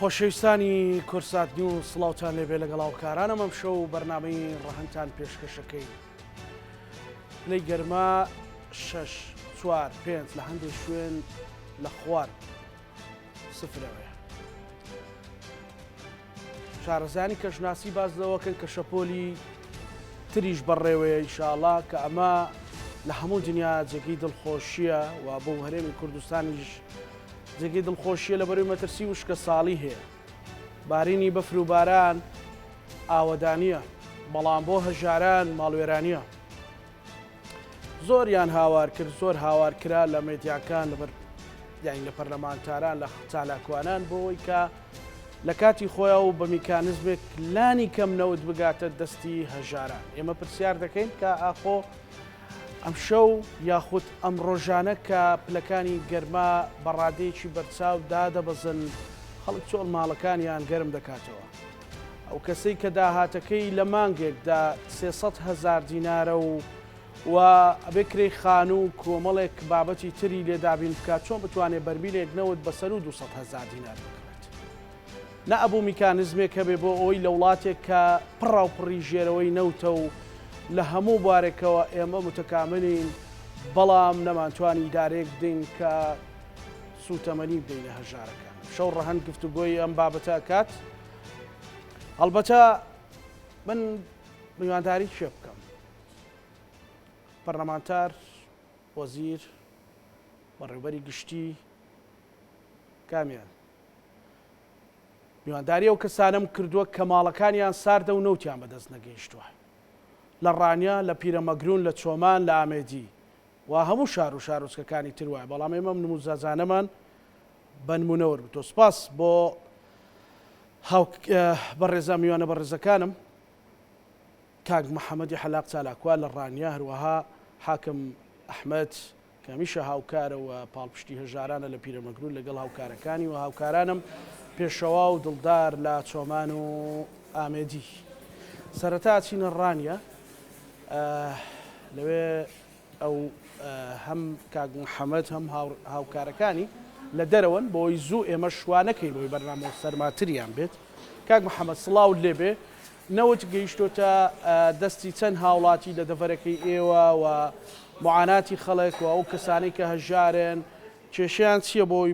خۆشەویستانی کورسات نیو سڵاوتان لێبێ لەگەڵ هاوکارانم ئەم شەو و بەرنمەی ڕەهەندتان پێشکەشەکەی پلەی گەرما 6 چوار پێنج لە هەندێک شوێن لە خوار سفرەوەیە شارەزایانی کەشناسی باس لەوەکەن کە شەپۆلی تریش بەڕێوەیە ئیشاڵا کە ئەمە لە هەموو دنیا جێگەی دڵخۆشیە و بۆ هەرێمی کوردستانیش جێگەی دڵخۆشیە لە بەروی مەترسی وشکە ساڵی هەیە بارینی بەفر و باران ئاوەدانە بەڵام بۆ هەژاران ماڵوێرانە زۆریان هاوار کرد زۆر هاوار کرا لە مێدیاکان لەبەر یاین لە پەرلەمانتاران لە چالاکوانان بۆەوەی کە لە کاتی خۆیان و بە میکانزمێک لانی کەم نەوت بگاتە دەستی هەژاران ئێمە پرسیار دەکەین کە ئاخۆ ئەم شەو یاخود ئەم ڕۆژانە کە پلەکانی گەرما بەڕادەیەکی بەرچاو دادەبەزن خەڵک چۆڵ ماڵەکانیان گەرم دەکاتەوە ئەو کەسەی کە داهاتەکەی لە مانگێکدا سێ سەد هەزار دینارە و و ئەبێ کرێی خانوو و کۆمەڵێک بابەتی تری لێ دابین بکات چۆن بتوانێت بەرمیلێک نەوت بەسەر و 200 هەزار دینار بکڕێت نە ئەبوو میکانزمێک هەبێ بۆ ئەوەی لە وڵاتێک کە پڕاوپڕی ژێرەوەی نەوتە و لە هەموو بارێکەوە ئێمە متەکاملین بەڵام نەمانتوانی دارێک بدەین کە سوتەمەنی بدەینە هەژارەکان. شەو ڕەهەند گفتوگۆی ئەم بابەتە ئەکات. هەڵبەتە من میوانداری کێ بکەم؟ پەرلەمانتار، وەزیر، بەڕێوبەری گشتی کامیان؟ میوانداری ئەو کەسانەم کردووە کە ماڵەکانیان ساردە و نەوتیان بەدەست نەگەیشتووە. لە ڕانیە، لە پیرەمەگرون، لە چۆمان، لە ئامێدی. وا هەموو شار و شارۆچکەکانی تر وایە بەڵام ئێمە ئەم نموزەزانەمان بە نموونە وەرگرتووە سپاس بۆ هاو بەڕێزا میوانە بەڕێزەکانم کاک محەممەدی حەلاق چالاکوە لە ڕانیە هەروەها حاکم ئەحمد کە هەمیشە هاوکارە و پاڵپشتی هەژارانە لە پیرەمەگرون لەگەڵ هاوکارەکانی و هاوکارانم پێشەوا و دڵدار لە چۆمان و ئامێدی سەرەتا چینە ڕانیە لەوێ ئەو هەم کاک محەمەد هەم هاوکارەکانی لە دەرەوەن بۆی زوو ئێمە شوانەکەی بۆی بەرنامە و سەرماتریان بێت کاک محەممەد سڵاو لێبێ نەوت گەیشتۆتە دەستی چەند هاوڵاتی لە دەڤەرەکەی ئێوە و معاناتی خەڵک و ئەو کەسانی کە هەژارن کێشیان چییە بۆی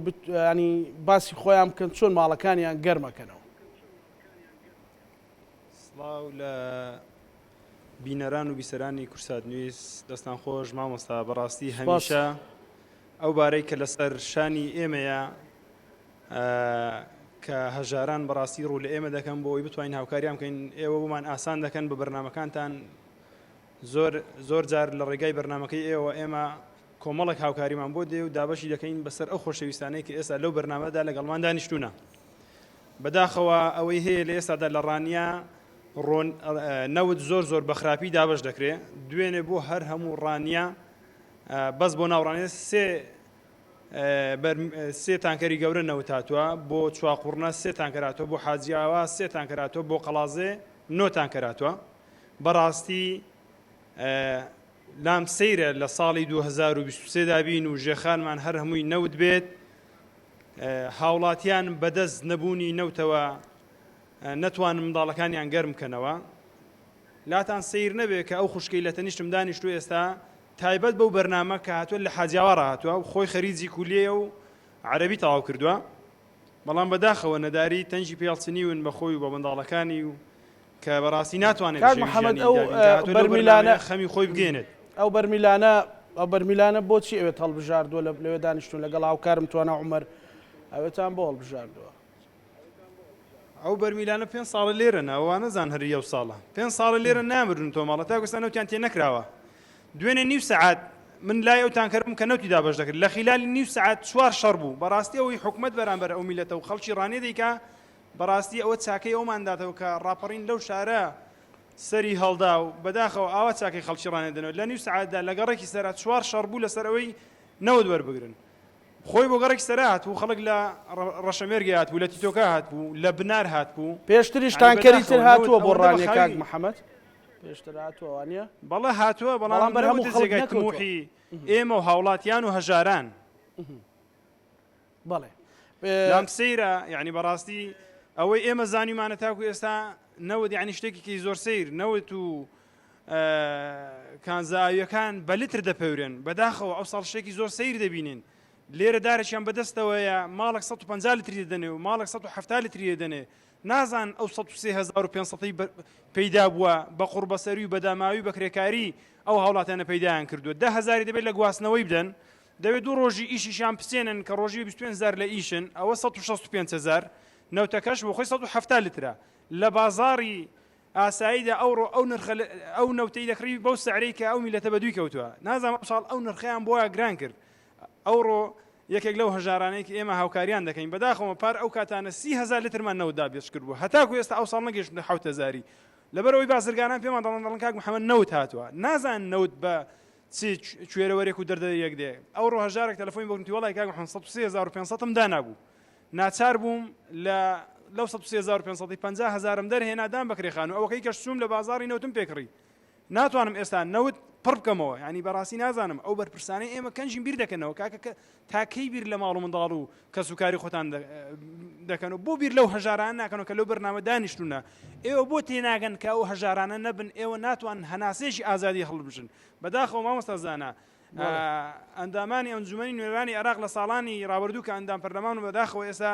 ینی باسی خۆیان بکەن چۆن ماڵەکانیان گەرمەکەنەوە سڵاو لە بینەران و بیسەرانی کورسات نیوز دەستان خۆش مامۆستا بەڕاستی هەمیشە ئەو بارەی کە لەسەر شانی ئێمەیە کە هەژاران بەڕاستی ڕوو لە ئێمە دەکەن بۆ ئەوی بتوانین هاوکاریان بکەین ئێوە بۆمان ئاسان دەکەن بە بەرنمەکانتان زۆر زۆر جار لە ڕێگای بەرنمەکەی ئێوە ئێمە کۆمەڵک هاوکاریمان بۆ دێ و دابەشی دەکەین بەسەر ئەو خۆشەویستانەی کە ئێستا لەو بەرنمەدا لەگەڵمان دانیشتونە بەداخەوە ئەوەی هەیە لە ئێستادا لە ڕانیە ڕۆن نەوت زۆر زۆر بەخراپی دابش دەکرێ دوێنێ بۆ هەر هەموو ڕانیە بەس بۆ ناوڕانێ سێ سێ تانکەری گەورە نەوتاتوە بۆ چواقڕنە سێ تانکەراتۆ بۆ حاجیاوە سێ تانکەراتۆ بۆ قەڵازێ نۆ تانکەراتوە بەڕاستی لام سەیرە لە ساڵی 2023 دابین و ژێخانمان هەر هەمووی نەوت بێت هاوڵاتیان بەدەست نەبوونی نەوتەوە نەتوانن منداڵەکانیان گەرم بکەنەوە لاتان سیر نەبێ کە ئەو خوشکی لە تەنیشتم دانیشت و ئێستا تایبەت بەو بەرنامە کە هاتووە لە حاجیاوا ڕاهاتوە و خۆی خەریجی کولیە و عەربی تەواو کردووە بەڵام بەداخەوە نەداری تەنجی پێڵچنیون بە خۆی و بە منداڵەکانی و کە بەڕاستی ناتوانێت محەممەد ئەو بەرمیلانە خەمی خۆی بگەێنێت ئەو بەرمیلانە ئەو بەرمیلانە بۆچی ئەوێت هەڵبژاردووە لە لەوێ دانیشتون لەگەڵ هاوکارم توانە عمر ئەوێتان بۆ هەڵبژاردووە ئەو بەرمیلانە پێنج ساڵە لێرە ناوانە زان هەر یەو ساڵە پێنج ساڵە لێرە نامرن تۆماڵە تا گوستان نەوتیان تێ نەکراوە دوێنێ نیو سعات من لای ئەو تانکەرم کە نەوتی دابش دەکرد لە خلالی نیو سعات چوار شەڕ بوو بەڕاستی ئەوی حکومت بەرامبەر ئەو میلەتە و خەڵکی ڕانێ دیکە بەڕاستی ئەوە چاکەی ئەومانداتەوە کە ڕاپەڕین لەو شارە سەری هەڵدا و بەداخەوە ئاوا چاکەی خەڵکی ڕانێدنەوە لە نیو سعاتدا لەگەڕێکی سەرا چوار شەڕ بوو لەسەر ئەوەی نەوت وەربگرن خۆی بۆ گەڕەکی سەرا هاتبوو، خەڵک لە ڕەشەمێرگێ هاتبوو، لە تیتۆکا هاتبوو، لە بنار هاتبوو. پێشتریش تانکەری تر هاتووە بۆ ڕانیە کاک محەمەد؟ پێشتر هاتووە وانیە؟ بەڵێ هاتووە، بەڵام نەبووتە جێگای تموحی ئێمە و هاوڵاتیان و هەژاران. بەڵێ لام سەیرە یعنی بەڕاستی ئەوەی ئێمە زانیمانە تاکو ئێستا نەوت یعنی شتێکیکی زۆر سیر نەوت و کانزا ئاوییەکان بە لتر دەپەورێن بەداخەوە ئەو ساڵ شتێکی زۆر سیر دەبینین لێرە دارێکیان بەدەستەوەیە ماڵک 150 لتری دەنێ و ماڵک 170 لتری دەنێ نازان ئەو 1500 پەیدا بووە بە قوڕبەسەری و بەداماوی بەکرێکاری ئەو هاوڵاتیانە پەیدایان کردووە ده هزاری دەبێت لە گواستنەوەی بدەن دەبێت دوو ڕۆژی ئیشیشان بسێنن کە ڕۆژی 25 زار لە ئیشن ئەوە 1650 نەوتەکەش بۆ خۆی 1970 لترە لە بازاری ئاساییدا ئەوڕۆ ئەو نرخە ئەو نەوتەی دەکڕی بەو سعرەی کە ئەو میلەتە بە دووی کەوتووە نازانم ئەمساڵ ئەو نرخیان بۆ گران کرد ئەوڕۆ یەکێک لەو هەژارانێک ئێمە هاوکاریان دەکەین بەداخەوە پار ئەو کاتانە سی هزار لترمان نەوتدا بێچ کرد بوو هەتاکو ئێستا ئەو ساڵ نەگەشتە حوت هزاری لەبەرەوەی بازرگانان پێمان دەڵن دەڵن کاک محەممەد نەوت هاتووە نازان نەوت بە چی کوێرەوەرێک و دەردە یەک دێ ئەو ڕۆهژارێک تەلفۆین بۆنتی وڵی کاک 500 هزار و 500 دانابوو ناچار بووم لە لەو سەد و سێ هەزار و پێنج سەد و پەنجا هەزارم دەرهێنا دام بە کرێخان و ئەوەکەی کەش چووم لە بازاڕی نەوتم پێ کڕی ناتوانم ئێستا نەوت پڕ بکەمەوە یعنی بەڕاستی نازانم ئەو بەرپرسانەی ئێمە کەنجین بیر دەکەنەوە کاکە تاکەی بیر لە ماڵ و منداڵ و کەس و کاری خۆتان دەکەن و بۆ بیر لەو هەژاران ناکەنەوە کە لەو بەرنامە دانیشتونە ئێوە بۆ تێناگەن کە ئەو هەژارانە نەبن ئێوە ناتوان هەناسێکی ئازادی هەڵبژن بەداخەوە مامۆستازانە ئەندامانی ئەنجومەنی نوێنەرانی عێراق لە ساڵانی ڕابردوو کە ئەندام پەرلەمان و بەداخەوە ئێستا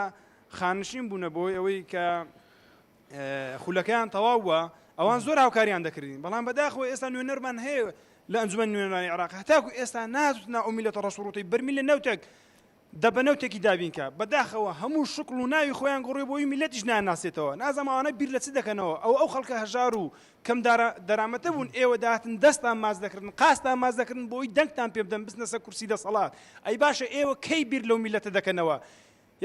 خانشین بوونە بۆی ئەوەی کە خولەکەیان تەواو بووە ئەوان زۆر هاوکاریان دەکردین بەڵام بەداخەوە ئێستا نوێنەرمان هەیە لە ئەنجومەن نوێنەرانی عێراق هەتاکو ئێستا ناتنا ئەو میلەتە ڕەسوڕوتەی بەرمیل لە نەوتێک دە بە نەوتێکی دابینکە. بە داخەوە هەموو شکڵ و ناوی خۆیان گۆڕیوە بۆ وی میللەتیش نایانناسێتەوە. نازانم ئەوانە بیر لە چ دەکەنەوە. ئەوە ئەو خەڵکە هەژار و کەم دارا دەرامەتە بوون ئێوە دەهاتن دەستان ماچ دەکردن قازتان ماچ دەکردن بۆ وی دەنگتان پێ بدەن بچنە سەر کورسی دەسەڵات. ئەی باشە ئێوە کەی بیر لەو میللەتە دەکەنەوە.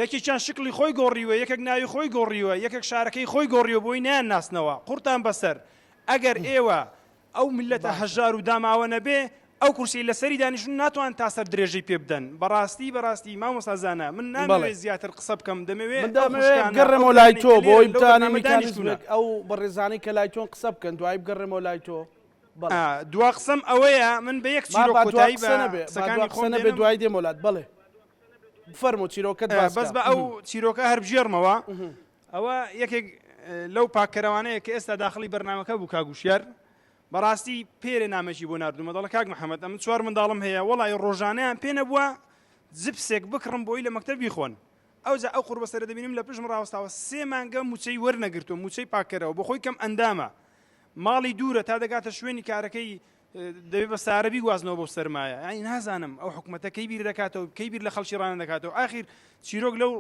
یەکێکیان شکڵی خۆی گۆڕیوە یەکێک ناوی خۆی گۆڕیوە یەکێک شارەکەی خۆی گۆڕیوە بۆ وی نایانناسنەوە. قوڕتان بەسەر. ئەگەر ئێوە ئەو میللەتە هەژار و داماوە نەبێ ئەو کورسیەی لەسەری دانیشتون ناتوان تا سەر درێژەی پێ بدەن بەڕاستی بەڕاستی مامۆستا زانا من نامەوێ زیاتر قسە بکەم دەمەوێ من دەمەوێ بگەڕێمەوە لای تۆ بۆ ئەوەی بتوانین میکانیزمێک ئەو بەڕێزانەی کە لای تۆن قسە بکەن دوایی بگەڕێمەوە لای تۆ دوا قسەم ئەوەیە من بە یەک چیرۆک کۆتایی بە قسەکانی خۆم نەبێ دوای دێم وەلات بەڵێ بفەرموو چیرۆکەت باس بەس بە ئەو چیرۆکە هەر بگێڕمەوە ئەوە یەکێک لەو پاککەرەوانەیە کە ئێستا داخڵی بەرنامەکە بوو کاک وشیار بەڕاستی پێرێ نامەکی بۆ ناردومە دەڵە کاک محەممەد ئەمن چوار منداڵم هەیە وڵی ڕۆژانیان پێ نەبووە جبسێک بکڕم بۆی لە مەکتتە بیخۆن ئەوجا ئەو قوربەسەرە دەبینم لە پشم ڕاوستاوە سێ مانگە موچەی وەرنەگرتو موچەی پاکەرەوە بۆ خۆی کەم ئەندامە ماڵی دوورە تا دەگاتە شوێنی کارەکەی دەبێ بە سارە بیگوازنەوە بۆ سەرمایە ئەی نازانم ئەو حکوومەتە کەی بیر دەکاتەوە کەی بیر لە خەڵکی ڕانە دەکاتەوە ئاخیر چیرۆک لەو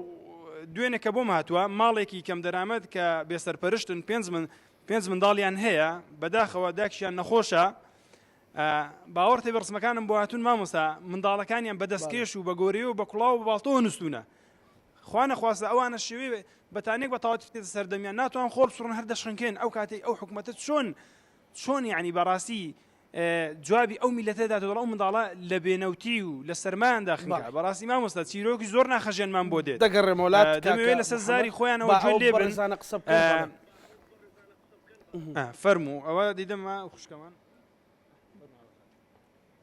دوێنێ کە بۆم هاتووە ماڵێکی کەم دەرامەت کە بێسەرپەرشتن پێنج من پێنج منداڵیان هەیە بەداخەوە داکشیان نەخۆشە باوەڕتێ بە ڕسمەکانم بۆ هاتون مامۆستا منداڵەکانیان بەدەستکێش و بە گۆری و بە کوڵاو و باڵتەوە نووسونە خوانە خواستە ئەوانە شێوێ بەتانێک بە تاواتێت سەردەمیان ناتوان خۆڵ سڕن هەر دەشنکێن ئەو کاتی ئەو حکوومەتە چۆن چۆن یەعنی بەڕاستی جوابی ئەو میلەتە دات دەڵ ئەو منداڵە لە بێنەوتی و لە سەرمان داخنگا بەڕاستی مامۆستا چیرۆکی زۆر ناخەژێنمان بۆ دێت دەگەڕێمەوەلات دەمەوێت لەسەر زاری خۆیانەوە جوێن لێ بەرزانە قسە فەرموو ئەوە دیدەمە خوشکەمان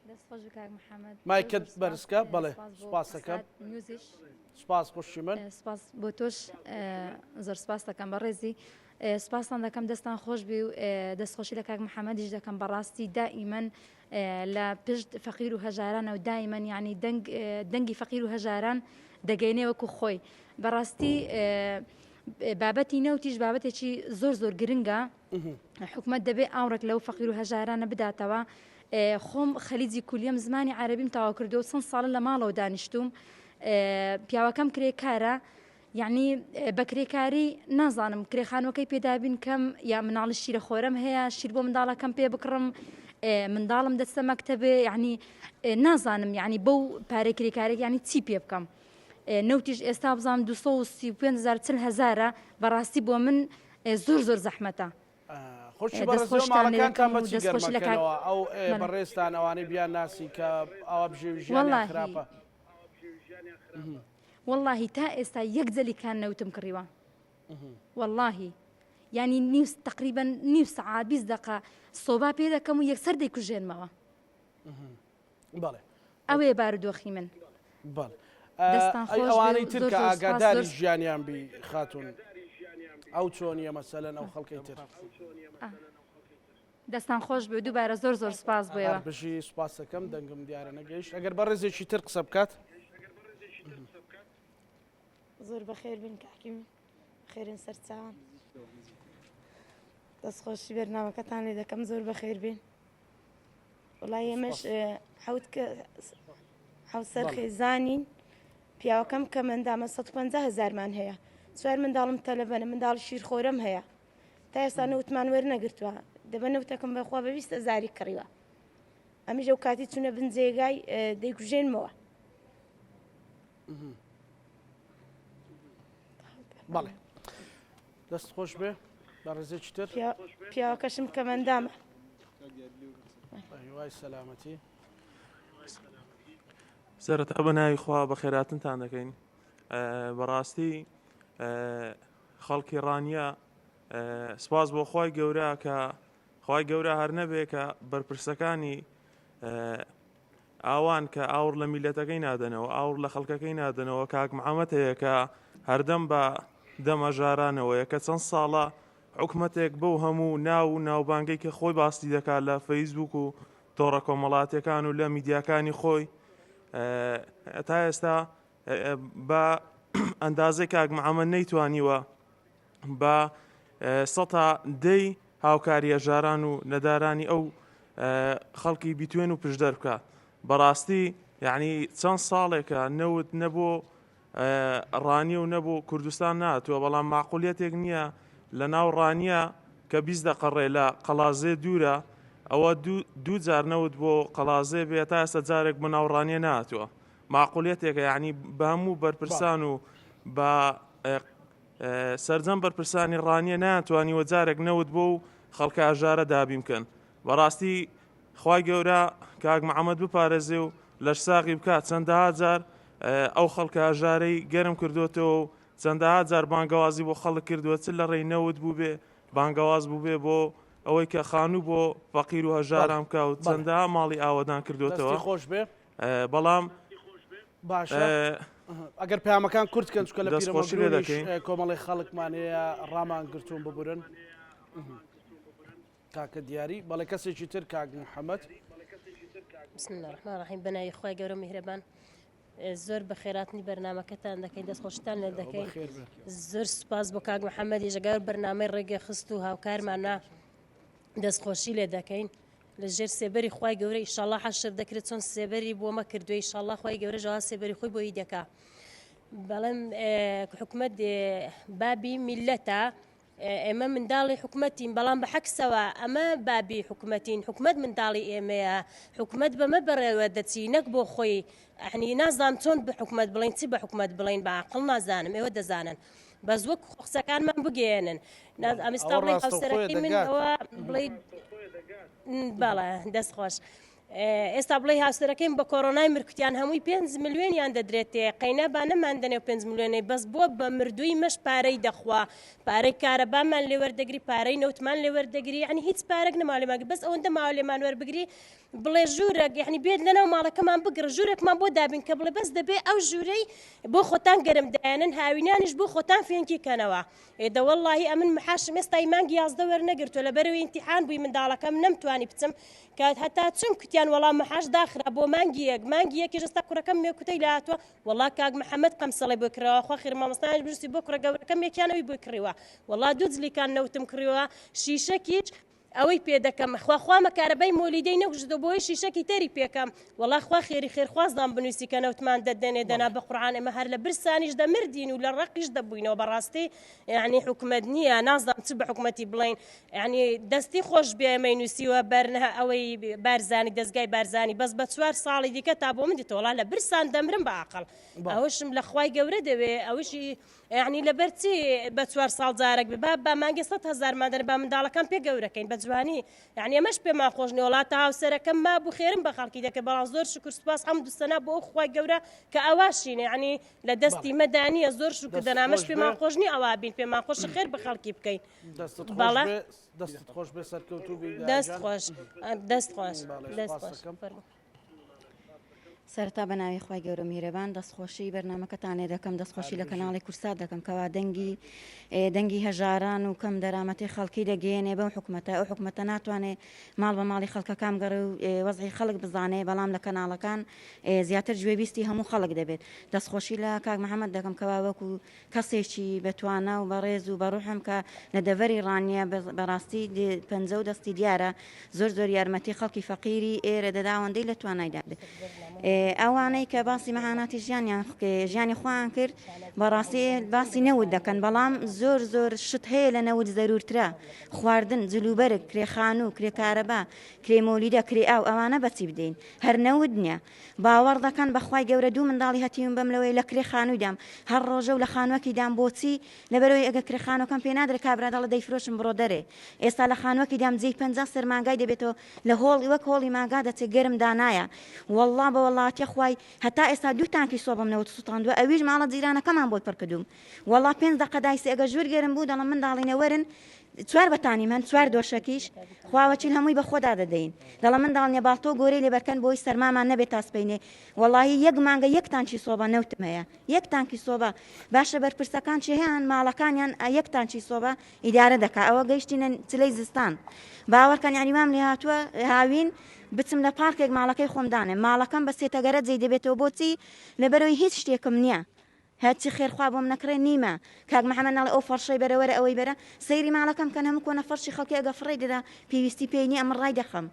دەست خۆش کاک محمد مایکت بەرزکە بەڵێ سپاس دەکەم سپاس خوشی من سپاس بۆ تۆش زۆر سپاس دەکەم بە ڕێزی سپاسان دەکەم دەستان خۆش بی و دەستخۆشی لە کاک محەممەدیش دەکەم بەڕاستی دائیمەن لە پشت فەقیر و هەژارانە و دایمەن یعنی دەنگی فەقیر و هەژاران دەگەینێ وەکو خۆی بەڕاستی بابەتی نەوتیش بابەتێکی زۆر زۆر گرنگە حکومەت دەبێ ئاوڕێک لەو فەقیر و هەژارانە بداتەوە خۆم خەلیجی کولیەم زمانی عربیم تەواو کردو چەند ساڵە لە ماڵەوە دانیشتوم پیاوەکەم کرێ کارە یعنی بە کرێکاری نازانم کرێخانەکەی پێدابین کەم یا مناڵی شیرە خۆرم هەیە شیر بۆ منداڵەکەم پێ بکڕم منداڵم دەستە مەکتتەبێ یعنی نازانم یعنی بەو پارە کرێکارێک ینی چی پێ بکەم نەوتیش ئێستا بزانام 235 هزار چل هزارە بەڕاستی بۆ من ئێ زۆر زۆر زەحمەتە. خۆشی بەڕێز لۆ ماڵەکانتان بە چی گەرم ئەکەنەوە ئەو بەڕێزتان ئەوانەی بیان ناسی کە ئاوا بژێوی ژیانیان خراپە واللهی تا ئێستا یەک جەلی کان نەوتم کڕیوە واللهی ینی نیوز تقریبا نیو سعات بیست دقە سۆبا پێ دەکەم و یەکسەر دەیکوژێنمەوە ئەوەیە بارودۆخی من. ئەوانەی ترکە ئاگاداری ژیانیان بی خاتون ئەو چۆنیە مەسەلەن ئەو خەڵکی تر. دەستان خۆش بێ دووبارە زۆر زۆر سپاس بۆە بژی سپاسەکەم دەنگم دیارە نەگەیشت ئەگەر بە ڕێزێکی تر قسە بکات زۆر بەخێر بن کاکیم خێرن سەرچوان دەستخۆشی بەرنمەکەتان لێ دەکەم زۆر بەخێر بین وڵای ئێمەش حوت کە حوسەر خێزانین پیاوەکەم کە مندامە 150 هزارمان هەیە سوار منداڵم تەلەبەنە منداڵ شیرخۆرم هەیە تا ئێستا نەوتمان وەرنەگرتووە دەبە نەوتەکەم بەخوا بە 20 زاری کڕیوە ئەمیش ئەو کاتی چونە بنجێگای دەیکوژێنمەوە بەڵێ دەست خۆش بێ بە ڕێزێکی تر پیاوەکەشم کەمەندامە وای سەلامەتی سەرەتا بە ناوی خوا بە خێراتنتان دەکەین بەڕاستی خەڵکی ڕانیە سپاس بۆ خی گەورە کە خوای گەورە هەر نەبێ کە بەرپرسەکانی ئاوان کە ئاور لە میلەتەکەی نادەنەوە ئاور لە خەڵکەکەی نادەنەوە کاک محەممەد هەیە کە هەردەم بە دەمەژارانەوەیە کە چەند ساڵە حکومەتێک بەو هەموو ناو و ناوبانگەی کە خۆی باستی دەکات لە فەیسبوک و تۆڕە کۆمەڵاتەکان و لە میدیاکانی خۆی تا ئێستا بە ئەندازەی کاک محەممەد نەیتوانیوە بە سەتا دەی هاوکاری هەژاران و نەدارانی ئەو خەڵکی بیتوێن و پشدەر بکات بەڕاستی یعنی چەند ساڵێکە نەوت نەبوو ڕانیە و نەبوو کوردستان ناتوە بەڵام ماقولەتێک نییە لە ناو ڕانیە کە بیست دەقەڕێ لە قەلازێ دوورە ئەوە دوو جار نەوت بۆ قەلازێ بێ تا ئێستا جارێک بە ناوڕانیە ناتوە ماقولیەتێکە یانی بەهەموو بەرپرسان و بە سەرجەم بەرپرسانی ڕانیە ناتوانیوە جارێک نەوت بۆ و خەڵکە ئەژارە دابین بکەن بەڕاستی خی گەورە کاک محەممەد بپارێزێ و لەش ساغی بکات چەندەها جار ئەو خەڵکە هەژارەی گەرم کردوێتەوە و چەندەها جار بانگەوازی بۆ خەڵک کردووە چ لە ڕێی نەوت بوو بێ بانگەواز بوو بێ بۆ ئەوەی کە خانوو بۆ فەقیر و هەژاران بکە و چەندەها ماڵی ئاوەدان کردوێتەوە خۆش بێ بەڵام باشە ئەگەر پامەکان کورت کەن چکە لە دەستخۆشی لێ دەکەین کۆمەڵی خەڵکمانەیە ڕامان گرتوون ببورن تاکە دیاری بەڵێ کەسێکی تر کاک محەممەد بسم الله الرحمن الرحیم بەناوی خخوای گەورە میهرەبان زۆر بە خێراتنی بەرنمەکەتان دەکەین دەست خۆشتان لێ دەکەین زۆر سپاس بۆ کاک محەممەدی ژگار بەرنمەی ڕێگە خست و هاوکارمانە دەستخۆشی لێ دەکەین لە ژێر سێبەری خوای گەورە ئیشاڵا حەشر دەکرێت چۆن سێبەری بۆ مە کردوێ ئیشاڵا خوای گەورە ژەوا سێبەری خۆی بۆی دەکا بەڵم حکومت بابی میلەتە ئێمە منداڵی حکومەتین بەڵام بە حەکسەوە ئەمە بابی حکومەتین حکومت منداڵی ئێمەیە حکومت بەمە بەڕێوە دەچی نەک بۆ خۆی ئەحنی نازان چۆن بە حکومت بڵین چی بە حکومت بڵین بە عقل نازانم ئێوە دەزانن بەس وەک خۆ قسەکانمان بگەیەنن ئەمستا بڵێ هاوسەرەکەی من ئەوە بڵێ باڵە دەست خۆش. ئێستا بڵێ هاوسەرەکەیم بە کۆرۆنای مرکوتیان هەمووی 5 ملیۆنیان دەدرێتێ قەینا با نەماندنێ 5 ملیۆنەی بەس بووە بە مردووی مەش پارەی دەخوا پارەی کارەبامان لێوەردەگری پارەی نەوتمان لێوەردەگری عنی هیچ پارەک نەماالێماگە بەس ئەوەندە ماوە لێمان وەربگری بڵێ ژوورەک یعنی بێت لەناو ماڵەکەمان بگڕ ژوورێکمان بۆ دابین کە بڵێ بەس دەبێ ئەو ژوورەی بۆ خۆتان گەرم دایەنن هاوینانیش بۆ خۆتان فێنکی کەنەوە ئێدە واللهی ئەمن محاشم ئێستای مانگی یازدە وەرنەگرتووە لە بەرەوەی امتحان بووی منداڵەکەم نەمتوانی بچم کات هەتا چم کوتیان وەڵام محاش داخرا بۆ مانگی یەک مانگی یەکی ژستا کوڕەکەم مێ کوتەی لاتوە وەڵا کاک محەممەد قەمسەڵی بۆ کراوە خۆ خێر مامۆستایش برسی بۆ کوڕە گەورەکەم یەکیانەوەی بۆی کڕیوە وەڵا دوو جلیکان نەوتم کڕیوە شیشەکیچ ئەوەی پێ دەکەم خوا خوامە کارەبای مۆلیدەی نەکوشتەوە بۆیش شیشەکی تەری پێکەم وەڵا خوا خێری خێرخوازدان بنویسی کە نەوتمان دەدەنێ دەنا بە قورعان ئێمە هەر لە برسانیش دەمردین و لە ڕەقیش دەبووینەوە بەڕاستی یعنی حکومەت نییە نازانم چ بە حکومەتی بڵین یعنی دەستی خۆش بێ ئێمەی نووسیوە بەرنە ئەوەی بارزانی دەستگای بارزانی بەس بە چوار ساڵی دیکە تا بۆ من دیتەوەڵا لە برسان دەمرم بە ئاقل ئەوشم لە خوای گەورە دەوێ ئەوشی یەعنی لەبەر چی بە چوار ساڵ جارەک بێ با بە مانگێ سەد هەزارمان دەنێ با منداڵەکان پێ گەورەکەین بە جوانی یەعنی ئەمەش پێمان خۆش نیە وەڵا تا هاوسەرەکەم مابوو خێرم بە خەڵکی دەکرد بەڵام زۆر شوکر سوپاس حەمد و سەنا بۆ ئەو خوای گەورە کە ئەواشینە یەعنی لە دەستی مەدا نییە زۆر شوکر دەست دەنامەش خۆش بێ پێمان خۆش نییە ئەوا بین پێمان خۆش خێر بە خەڵکی بکەین دەستت خۆش بەڵێ بێ دەستت خۆش بێ سەرکەوتوو بی دەست گیان. خۆش دەست خۆش بەڵێ، دەست سوپاس خۆش دەکەم. فەرموو. سەرەتا بە ناوی خی گەورە میرەبان دەستخۆشی بەرنمەکەتان لێ دەکەم دەستخۆشی لە کەناڵی کورسا دەکەم کەوا دەنگی دەنگی هەژاران و کەم دەرامەتی خەڵکی دەگەێنێ بەم حکوومەتە ئەو حکوومەتە ناتوانێ ماڵ بە ماڵی خەڵکەکان گەڕێ و وەزی خەڵک بزانێ بەڵام لە کەناڵەکان زیاتر گوێبیستی هەموو خەڵک دەبێت دەستخۆشی لە کاک محەممەد دەکەم کەوا وەکو کەسێکی بە توانا و بەڕێز و بەڕوحم کە لە دەڤەری ڕانیە بەڕاستی پەنجە و دەستی دیارە زۆر زۆر یارمەتی خەڵکی فەقیری ئێرە دەدا ئەوەندەی لە توانایدا بێت ئەوانەی کە باسی مەهاناتی ژیانیان ژیانی خۆیان کرد بەڕاستی باسی نەوت دەکەن بەڵام زۆر زۆر شت هەیە لە نەوت زەرورترە خواردن جلوبەرگ کرێخان و کرێکارەبا کرێمۆلیدە کرێ ئاو ئەوانە بەچی بدەین هەر نەوت نییە باوەڕ دەکەن بەخوای گەورە دوو منداڵی هەتیوم بەم لەوەی لە کرێ خانویدام هەر ڕۆژە و لە خانوەکی دام بۆچی لەبەرەوەی ئەگە کرێ خانوەکەم پێ نادرێ کابرا دەڵێ دەیفرۆشم بڕۆ دەرێ ئێستا لە خانوەکی دام جێی پەنجا سەر مانگای دەبێتەوە لە هۆڵی وەک هۆڵی مانگا دەچێ گەرم دانایە وەڵا بە وەڵاتیە خوای هەتا ئێستا دوو تانکی سۆبەم نەوت سوتاندوە ئەویش ماڵە جیرانەکەمان بۆی پڕکردوم وەڵا پێنج دەقە دایسێ ئەگە ژوور گەرم بوو دەڵم منداڵینە وەرن چوار بەتانیم هەن چوار دۆشەکیش خواوەچین هەمووی بە خۆدا دەدەین دەڵە منداڵنیە باڵتۆ گۆرەی لێبەرکەن بۆی سەرمامان نەبێت تاسپینێ وەڵی یەک مانگە یەک تانچی سۆبە نەوتم هەیە یەک تانکی سۆبە باشە بەرپرسەکان چ هەیەیان ماڵەکانیان یەک تانچی سۆبە ئیدارە دەکا ئەوە گەیشتینە چلەی زستان باوەڕکەن یانی وام لێ هاتووە هاوین بچم لە پارکێک ماڵەکەی خۆمدانێ ماڵەکەم بە سێتەگەرە جێ دەبێتەوە بۆچی لەبەرەوەی هیچ شتێکم نییە هەرچی خێر خوا بۆم نەکڕێ نیمە. کاک محمد ناڵێ ئەو فەڕشەی بەرە وەرە ئەوەی بەرە سەیری ماڵەکەم بکەن هەموو کۆنە فەڕشی خەڵکی ئەگە فڕێی دەدا پێویستی پێی نیە ئەمن ڕایدەخەم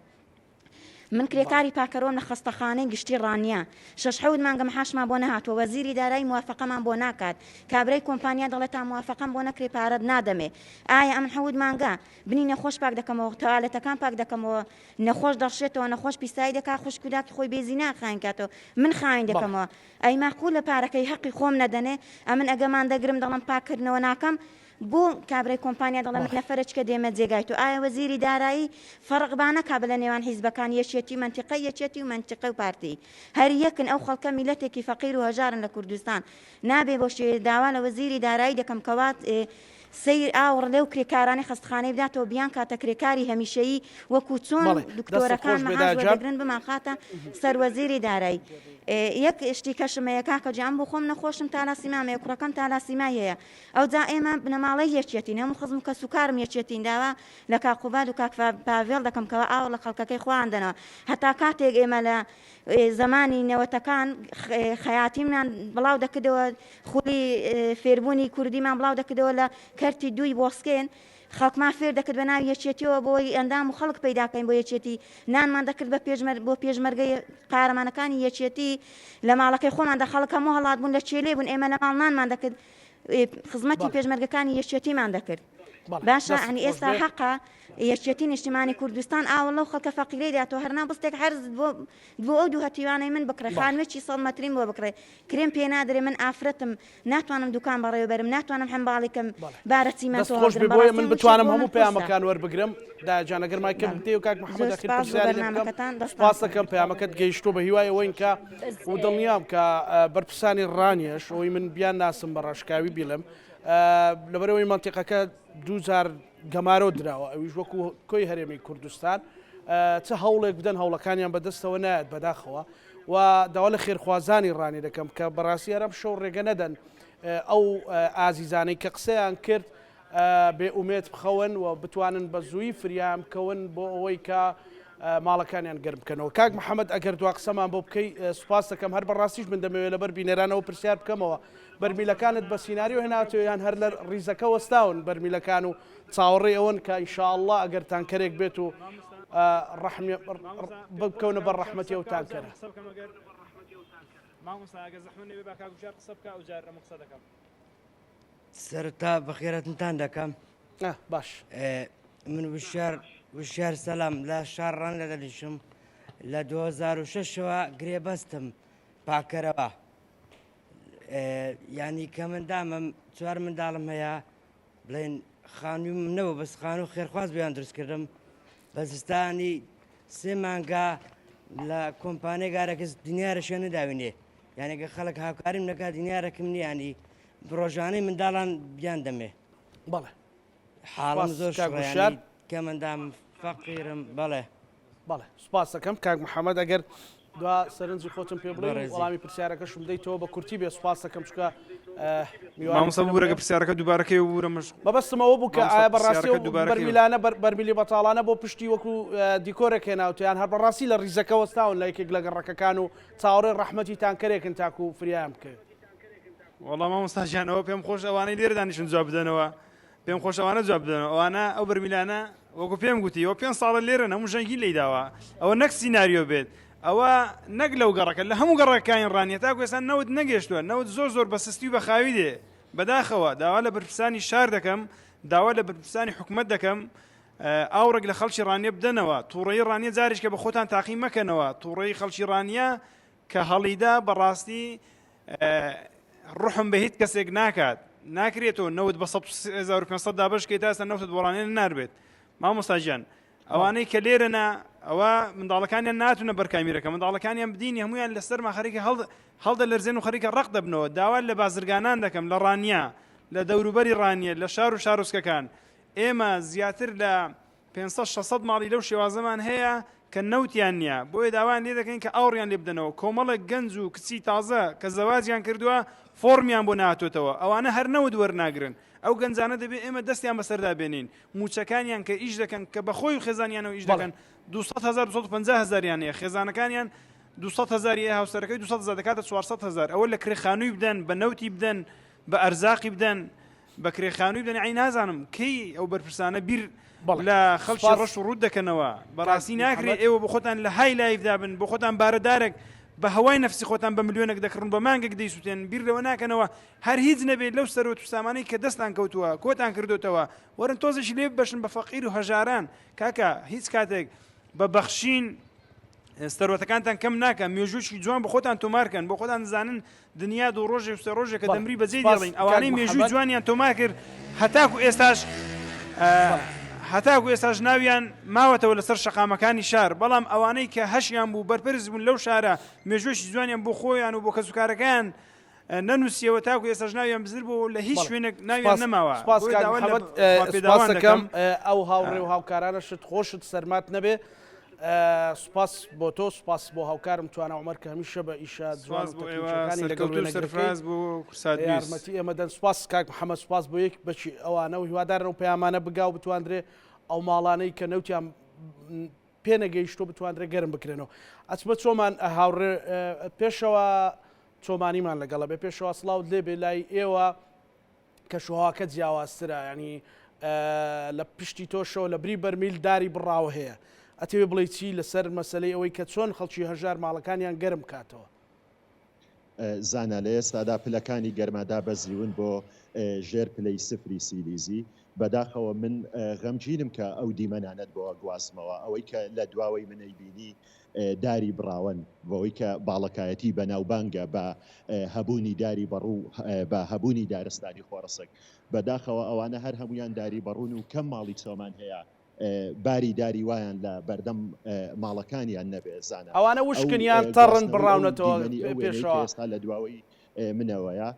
من کرێکاری پاکەرۆم لە خەستەخانەی گشتی ڕانیە شەش حەوت مانگە مەحاشمان بۆ نەهاتوە وەزیری دارایی موافەقەمان بۆ ناکات کابرای کۆمپانیا دەڵێ تا موافەقەم بۆ نەکرێ پارەت نادەمێ ئایا ئەمن حەوت مانگە بنی نەخۆش پاک دەکەمەوە تەوالێتەکان پاک دەکەمەوە نەخۆش دەڕشێتەوە نەخۆش پیسایی دەکات خوشک و داکی خۆی بێزینان خاین کاتەوە من خاین دەکەمەوە ئەی مەعقولە پارەکەی هەقی خۆم نەدەنێ ئەمن ئەگە مان دەگرم دەڵێم پاک کردنەوە ناکەم بۆ کابرای کۆمپانیا دەڵێ من نەفەرە چکە دێمە جێگای تۆ ئایا وەزیری دارایی فەڕق با نەکا بلە نێوان حیزبەکان یەکیەتی و مەنتیقەی یەکیەتی و مەنتیقەی و پارتی هەر یەکن ئەو خەڵکە میلەتێکی فەقیر و هەژارن لە کوردستان نابێ بۆ شێ داوا لە وەزیری دارایی دەکەم کەوا سەیر ئاوڕ لەو کرێکارانەی خەستخانەی بداتەوە بیانکاتە کرێکاری هەمیشەیی وەکو چۆن بەڵێ، دەستت دکتۆرەکان خۆش بێ مەعاش داجان. وەردەگرن بمانخاتە سەر وەزیری دارایی ئێ، یەک شتی کەشم هەیە کاکە گیان بۆ خۆم نەخۆشم تالاسیمام هەیە کوڕەکەم تالاسیمای هەیە ئەوجا ئێمە بنەماڵەی یەکیەتین هەموو خزم و کەس و کارم یەکیەتین داوا لە کاک قوباد و کاک فا پاڤێڵ دەکەم کەوا ئاوڕ لە خەڵکەکەی خۆیان بدەنەوە هەتا کاتێک ئێمە لە زمانی نەوەتەکان خەیاتیمان بڵاو دەکردەوە خولی فێربوونی کوردیمان بڵاو دەکردەوە لە کەرتی دووی بۆسکێن خەڵکمان فێر دەکرد بە ناوی یەکێتیەوە بۆی ئەندام و خەڵک پەیداکەین بۆ یەکێتی نانمان دەکرد بە پێشمەر بۆ پێشمەرگەی قارەمانەکانی یەکێتی لە ماڵەکەی خۆمان دە خەڵکە مۆ هەڵات بوون لە چێلێ بوون ئێمە لە ماڵ نانمان دەکرد خزمەتی پێشمەرگەکانی یەکێتیمان دەکرد باشە عنی ئێستا حەقە یەکیەتی نیشتیمانی کوردستان ئاوە لەو خەڵکە فەقیرەی دا تۆ هەرنا بستێک حەرز بۆ بۆ ئەو دوو هەتیوانەی من بکڕێ خانوێکی سەد مەتریم بۆ بکڕێ کرێم پێ نادرێ من ئافرەتم ناتوانم دوکان بەڕێوەبەرم ناتوانم هەمباڵیکەم بارە چیمەنتۆ خۆش بۆیە من بتوانم هەموو پەیامەکان وەربگرم دا جانەگەر مای کەم دێ و کاک محمد ئەخیر پرسیارەکەتان دەسپاسەکەم پەیامەکەت گەیشتۆ بە هیوای ئەوەین کە و دڵنیام کە بەرپرسانی ڕانیەش ئەوی من بیان ناسم بە ڕاشکاوی بیڵم لەبەرئەوەی مەنتیقەکە دوو جار گەمارۆ دراوە ئەویش وەکو کۆی هەرێمی کوردستان چ هەوڵێک بدەن هەوڵەکانیان بەدەستەوە نایەت بەداخەوە و داوا لە خێرخوازانی ڕانی دەکەم کە بەڕاستی ئەرەم شەو ڕێگە نەدەن ئەو ئازیزانەی کە قسەیان کرد بێ ئومێت بخەون و بتوانن بە زووی فریام بکەون بۆ ئەوەی کە ماڵەکانیان گەرم بکەنەوە کاک محەممەد ئەگەر دوا قسەمان بۆ بکەی سوپاس دەکەم هەر بەڕاستیش من دەمەوێت لەبەر بینەرانەوە پرسیار بکەمەوە بەرمیلەکانت بە سیناریۆ هێناوتەوە یان هەر لە ریزەکە وەستاون بەرمیلەکان و چاوەڕێی ئەوەن کە ان شاء اللە ئەگەر تانکەرێک بێت و رەحمی بکەونە بەر رەحمەتی ئەو تانکەرە. سەرەتا بەخێراتنتان دەکەم باش من وشار وشار سەلام لە شار ڕان لە دەلیشم لە 2006ەوە گرێبەستم پاکەرەوە یانی کە من دامم چوار منداڵم هەیە بڵێن خانوو منەوە بەس خانوو خێرخواز بیان دروستکردم بە زستانی سێ مانگا لە کۆمپانێ گارەکەس دنیارەشە نەداوینێ یانەکە خەڵک هاوکاریم نەکا دنیارەکەم نیانی ڕۆژانەی منداڵان بیان دەمێ بەڵێ حاڵم زۆر شار کە مندام فەقیرم بەڵێ بەڵێ سوپاست دەکەم کاک محەمەد ئەگەر دوا سەرنجی خۆتم پێ بڵێ بەڕێزی وەڵامی پرسیارەکەشم بدەیتەوە بە کورتی بێ سوپاست دەکەم چونکە ئه، میوانی مامۆستا سەرم ببورە کە بێ پرسیارەکە دووبارەکەی ببورە مەش بەبەستم ئەوە بوو کە مامۆستا ئایا بەڕاستی پرسیارەکە ئەو دووبارەکەی بکە بەرمیلانە بەر بەرمیلی بەتاڵانە بۆ پشتی وەکو ئه، دیکۆرێک هێناوتە یان هەر بەڕاستی لە ڕیزەکە وەستاون لە یەکێک لە گەڕەکەکان و چاوەڕێی ڕەحمەتی تانکەرێکن تاکوو فریایان بکەوێت؟ وەڵا مامۆستا گیان ئەوە پێم خۆشە ئەوانەی لێرە دانیشتوون جواب بدەنەوە پێم خۆشە ئەوانە جواب بدەنەوە ئەوانە ئەو بەرمیلانە وەکو پێم گوتی ئەو پێنج ساڵە لێرەن هەموو ژەنگی لێی داوە ئەوە نەک سیناریۆ بێت ئەوە نەک لەو گەڕەکە لە هەموو گەڕەکانی ڕانیە تاکو ئێستا نەوت نەگەشتووە نەوت زۆر زۆر بە سستی و بە خاوی دێ بەداخەوە داوا لە بەرپرسانی شار دەکەم داوا لە بەرپرسانی حکوومەت دەکەم ئاوڕێک لە خەڵکی ڕانیە بدەنەوە تووڕێی ڕانیە جارێکە بە خۆتان تاقی مەکەنەوە تووڕێی خەڵکی ڕانیە کە هەڵیدا بەڕاستی ڕحم بە هیچ کەسێک ناکات ناکرێتەوە نەوت بە 1500 دابشکێ تاسە نەوتت بۆڵانێ ناربێت مامۆستاژیان ئەوانەی کە لێرەنا ئەوە منداڵەکانیان ناتونە بەرکامیرەکە منداڵەکانیان بدینی هەمویان لەسەر ماخەریکە هەڵ هەڵدە لەرزێن و خەریکە ڕق دەبنەوە داوا لە بازرگانان دەکەم لە ڕانیە لە دەوروبەری ڕانیە لە شار و شارۆچکەکان ئێمە زیاتر لە پێنج سەد شەش سەد ماڵی لەو شێوازەمان هەیە کە نەوتیان نییە، بۆیە داوایان لێ دەکەین کە ئاوڕیان لێ بدەنەوە، کۆمەڵێک گەنج و کچی تازە کە زەواجیان کردووە فۆڕمیان بۆ نەهاتۆتەوە، ئەوانە هەر نەوت وەرناگرن، ئەو گەنجانە دەبێ ئێمە دەستیان بەسەردا بێنین، مووچەکانیان کە ئیش دەکەن کە بەخۆی و خێزانیانەوە ئیش دەکەن دوو سەد هەزار دوو سەد و پەنجا هەزاریان هەیە، خێزانەکانیان دوو سەد هەزاری هەیە، هاوسەرەکەی دوو سەد هەزار دەکاتە چوار سەد هەزار، ئەوە لە کرێ خانووی بدەن، بە نەوتی بدەن، بە ئەرزاقی بدەن، بەکرێ خانووی بن عەی نازانم کەی ئەو بەرپرسانە بیر لە خەڵکی ڕەش و ڕوت دەکەنەوە بەڕاستی ناکرێت ئێوە بە خۆتان لە های لایفدا بن بۆ خۆتان بارەدارێک بە هەوای نفسی خۆتان بە ملیۆنێک دەکڕن بە مانگێک دەیسووتێن بیر لەوە ناکەنەوە هەر هیچ نەبێت لەو سەرۆت سامانەی کە دەستان کەوتووە کۆتان کردوتەوە وەرن تۆزش لێ بەشن بە فەقیر و هەژاران کاکە هیچ کاتێک بە بەخشین سەرۆتەکانتان کەم ناکە مێژووشی جوان بە خۆتان تۆمارکەن بۆ خۆتان زانن دنیا دوو ڕۆژێک و سێ ڕۆژێکە دەمری بەجێی دێڵین ئەوانەی مێژووی جوانیان تۆمار کرد هەتاکو ئێستاش هەتاکو ئێستاش ناویان ماوەتەوە لەسەر شەقامەکانی شار بەڵام ئەوانەی کە هەشیان بوو بەرپرس بوون لەو شارە مێژوێکی جوانیان بۆ خۆیان و بۆ کەسوکارەکەیان نەنووسیەوە تاکو ئێساش ناویان بزر بوو لە هیچ شوێنێک ناویان نەماوە سپاسەکەم ئەو هاوڕێ و هاوکارانە شت خۆشت سەرمات نەبێ سوپاس بۆ تۆ سوپاس بۆ هاوکارم توانا عومەر کە هەمیشە بە ئیشە جوان و تەکنیکیەکانی لەگەڵ وێنەگرەکەی یارمەتی ئێمە دەن سوپاس کاک محەممەد سوپاس بۆ یەک بەچی ئەوانە و هیوادارن و پەیامانە بگا و بتواندرێ ئەو ماڵانەی کە نەوتیان پێ نەگەیشتۆ بتواندرێ گەرم بکرێنەوە ئەچمە چۆمان هاوڕێ پێشەوە چۆمانیمان لەگەڵە بێ پێشەوە سلااوت لێ بێ لای ئێوە کەشوهەواکە جیاوازترە یانی لە پشتی تۆشەوە لە بری بەرمیل داری بڕاوە هەیە ئەتەوێ بڵێ چی لەسەر مەسلەی ئەوەی کە چۆن خەڵکی هەژار ماڵەکانیان گەرم کاتەوە زانا لە ئێستادا پلەکانی گەرما دابەزیون بۆ ژێر پلەی سفری سیلیزی بەداخەوە من غەمگینم کە ئەو دیمەنانەت بۆ گوازمەوە ئەوەی کە لە دواوەی منەی بینی داری بڕاوەن بەوەی کە باڵەکایەتی بەناوبانگە بە هەبوونی داری بەڕوو بە هەبوونی دارستانی خۆڕسک بەداخەوە ئەوانە هەر هەموویان داری بەڕوون و کەم ماڵی چۆمان هەیە باری داری وایان لە بەردەم ماڵەکانیان نەبێ زانە ئەوانە وشکن یان تەڕن بڕاونەتەوە پێشەوە لە دواوەی منەوەیە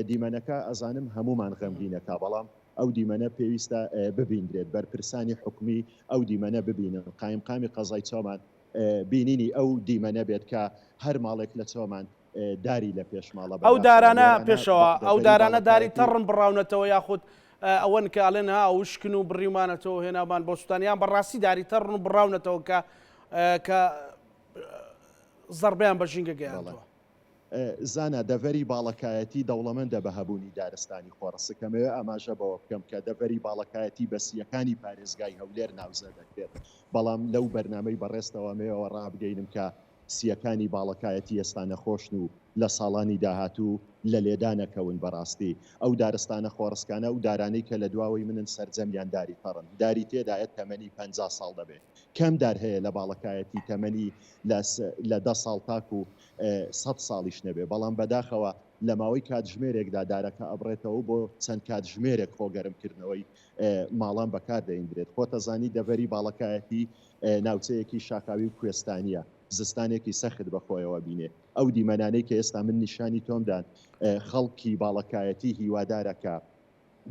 دیمەنەکە ئەزانم هەمومان غەمگینەکە بەڵام ئەو دیمەنە پێویستە ببیندرێت، بەرپرسانی حکومی ئەو دیمەنە ببینن، قایمقامی قەزای چۆمان بینینی ئەو دیمەنە بێت کە هەر ماڵێک لە چۆمان داری لە پێش ماڵە، ئەو دارانە پێشەوا، ئەو دارانە داری تەڕن بڕاونەتەوە یاخود ئەوەن کە ئەڵێن ها وشکن و بڕیومانەتەوە هێنامان بۆ سوتان یان بەڕاستی داری تەڕن و بڕاونەتەوە کە زەڕبەیان بە ژینگە گەیاندووە؟ زانا دەڤەری باڵەکایەتی دەوڵەمەندە بە هەبوونی دارستانی خۆڕسک، ئەمەوێ ئاماژە بەوە بکەم کە دەڤەری باڵەکایەتی بە سییەکانی پارێزگای هەولێر ناوزە دەکرێت، بەڵام لەو بەرنامەی بەڕێزتەوە ئەمەوێ ئەوە ڕابگەینم کە سییەکانی باڵەکایەتی ئێستا نەخۆشن و لە ساڵانی داهاتوو لە لێدانەکەون، بەڕاستی ئەو دارستانە خۆڕسکانە ئەو دارانەی کە لە دواوەی منن سەرجەمیان داری تەڕن، داری تێدایە تەمەنی پەنجا ساڵ دەبێت، کەم دار هەیە لە باڵەکایەتی تەمەنی لە دە ساڵ تاکو سەد ساڵیش نەبێ، بەڵام بەداخەوە لە ماوەی کاتژمێرێکدا دارەکە ئەبڕێتەوە و بۆ چەند کاتژمێرێک خۆ گەرمکردنەوەی ماڵان بەکار دەیندرێت. خۆتەزانی دەڤەری باڵەکایەتی ناوچەیەکی شاخاوی و کوێستانییە، زستانێکی سەخت بەخۆیەوە بینێ. ئەو دیمەنانەی کە ئێستا من نیشانی تۆم دان، خەڵکی باڵەکایەتی هیوادارە کە.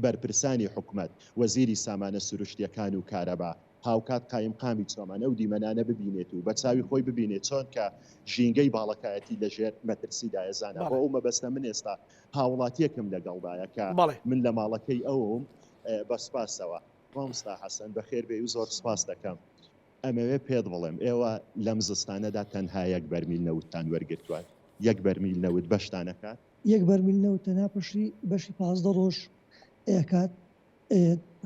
بەرپرسانی حکومەت، وەزیری سامانە سروشتیەکان و کارەبا، هاوکات قایمقامی چۆمان ئەو دیمەنانە ببینێت و بەچاوی خۆی ببینێت چۆن کە ژینگەی باڵەکایەتی لەژێر مەترسیدایە زانا بۆ ئەو مەبەستە من ئێستا هاوڵاتیەکم لەگەڵدایە کە من لە ماڵەکەی ئەوم بەسوپاسەوە ماموستا حەسەن بەخێربێی و زۆر سوپاست دەکەم. ئەمەوێ پێت بڵێم ئێوە لەم زستانەدا تەنها یەک بەرمیل نەوتتان وەرگرتوە، یەک بەرمیل نەوت بەشتان ئەکات؟ یەک بەرمیل نەوت تەنها پشتی بەشی پازدە ڕۆژ ئەکات،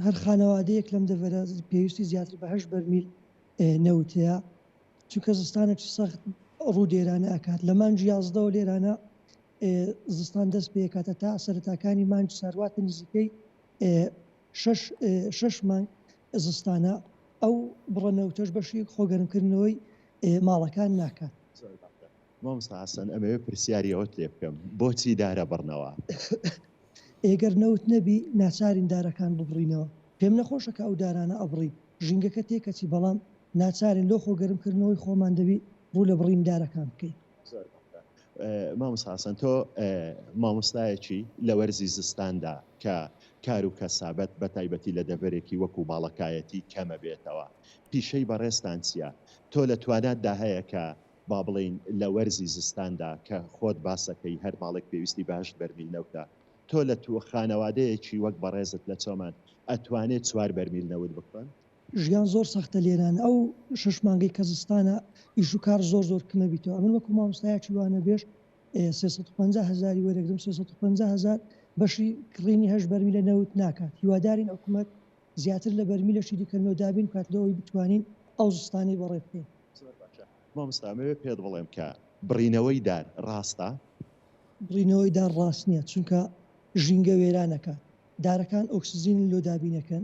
هەر خانەوادەیەک لەم دەڤەرە پێویستی زیاتر بە هەشت بەرمیل نەوت هەیە، چونکە زستانێکی سەخت ڕوو لێرانە ئەکات، لە مانگی یازدەوە لێرانە زستان دەست پێ ئەکات هەتا سەرەتاکانی مانگی سارواتە نزیکەی شەش شەش مانگ زستانە ئەو بڕە نەوتەش بەشی خۆگەرمکردنەوەی ماڵەکان ناکات. مامۆستا حەسەن ئەمەوێ پرسیاری ئەوەت لێ بکەم بۆچی دارە بڕنەوە؟ ئێگەر نەوت نەبی ناچارین دارەکان ببڕینەوە پێم نەخۆشە کە ئەو دارانە ئەبڕین ژینگەکە تێکەچی بەڵام ناچارین لۆ خۆگەرمکردنەوەی خۆمان دەبی ڕوو لە بڕین دارەکان بکەین. زۆر بەسە مامۆستا حەسەن تۆ مامۆستایەکی لە وەرزی زستاندا کە کار و کەسابەت بە تایبەتی لە دەڤەرێکی وەکو باڵەکایەتی کەمە بێتەوە پیشەی بەڕێزتان چیە تۆ لە تواناتدا هەیە کە با بڵێین لە وەرزی زستاندا کە خۆت باسەکەی هەر ماڵێک پێویستی بە هەشت بەرمیل نەوتە تۆ لە تووە خانەوادەیەکی وەک بەڕێزت لە چۆمان ئەتوانێت چوار بەرمیل نەوت بکڕن؟ ژیان زۆر سەختە لێران ئەو شەش مانگەی کە زستانە ئیش و کار زۆر زۆر کمە بیتەوە ئەمن وەکو مامۆستایەکی وانەبێژ سێ سەد و پەنجا هەزاری وەرەگرم سێ سەد و پەنجا هەزار بەشی کڕینی هەشت بەرمیلە نەوت ناکات هیوادارین حکومەت زیاتر لە بەرمیلەشی دیکە نۆ دابین بکات لەوەی بتوانین ئەو زستانەی بەڕێ بکەین. زۆر باشە مامۆستا ئەمەوێ پێت بڵێم کە بڕینەوەی دار ڕاستە؟ بڕینەوەی دار ڕاست نییە چونکە ژینگە وێران ئەکات دارەکان ئۆکسجینی لۆ دابین ئەکەن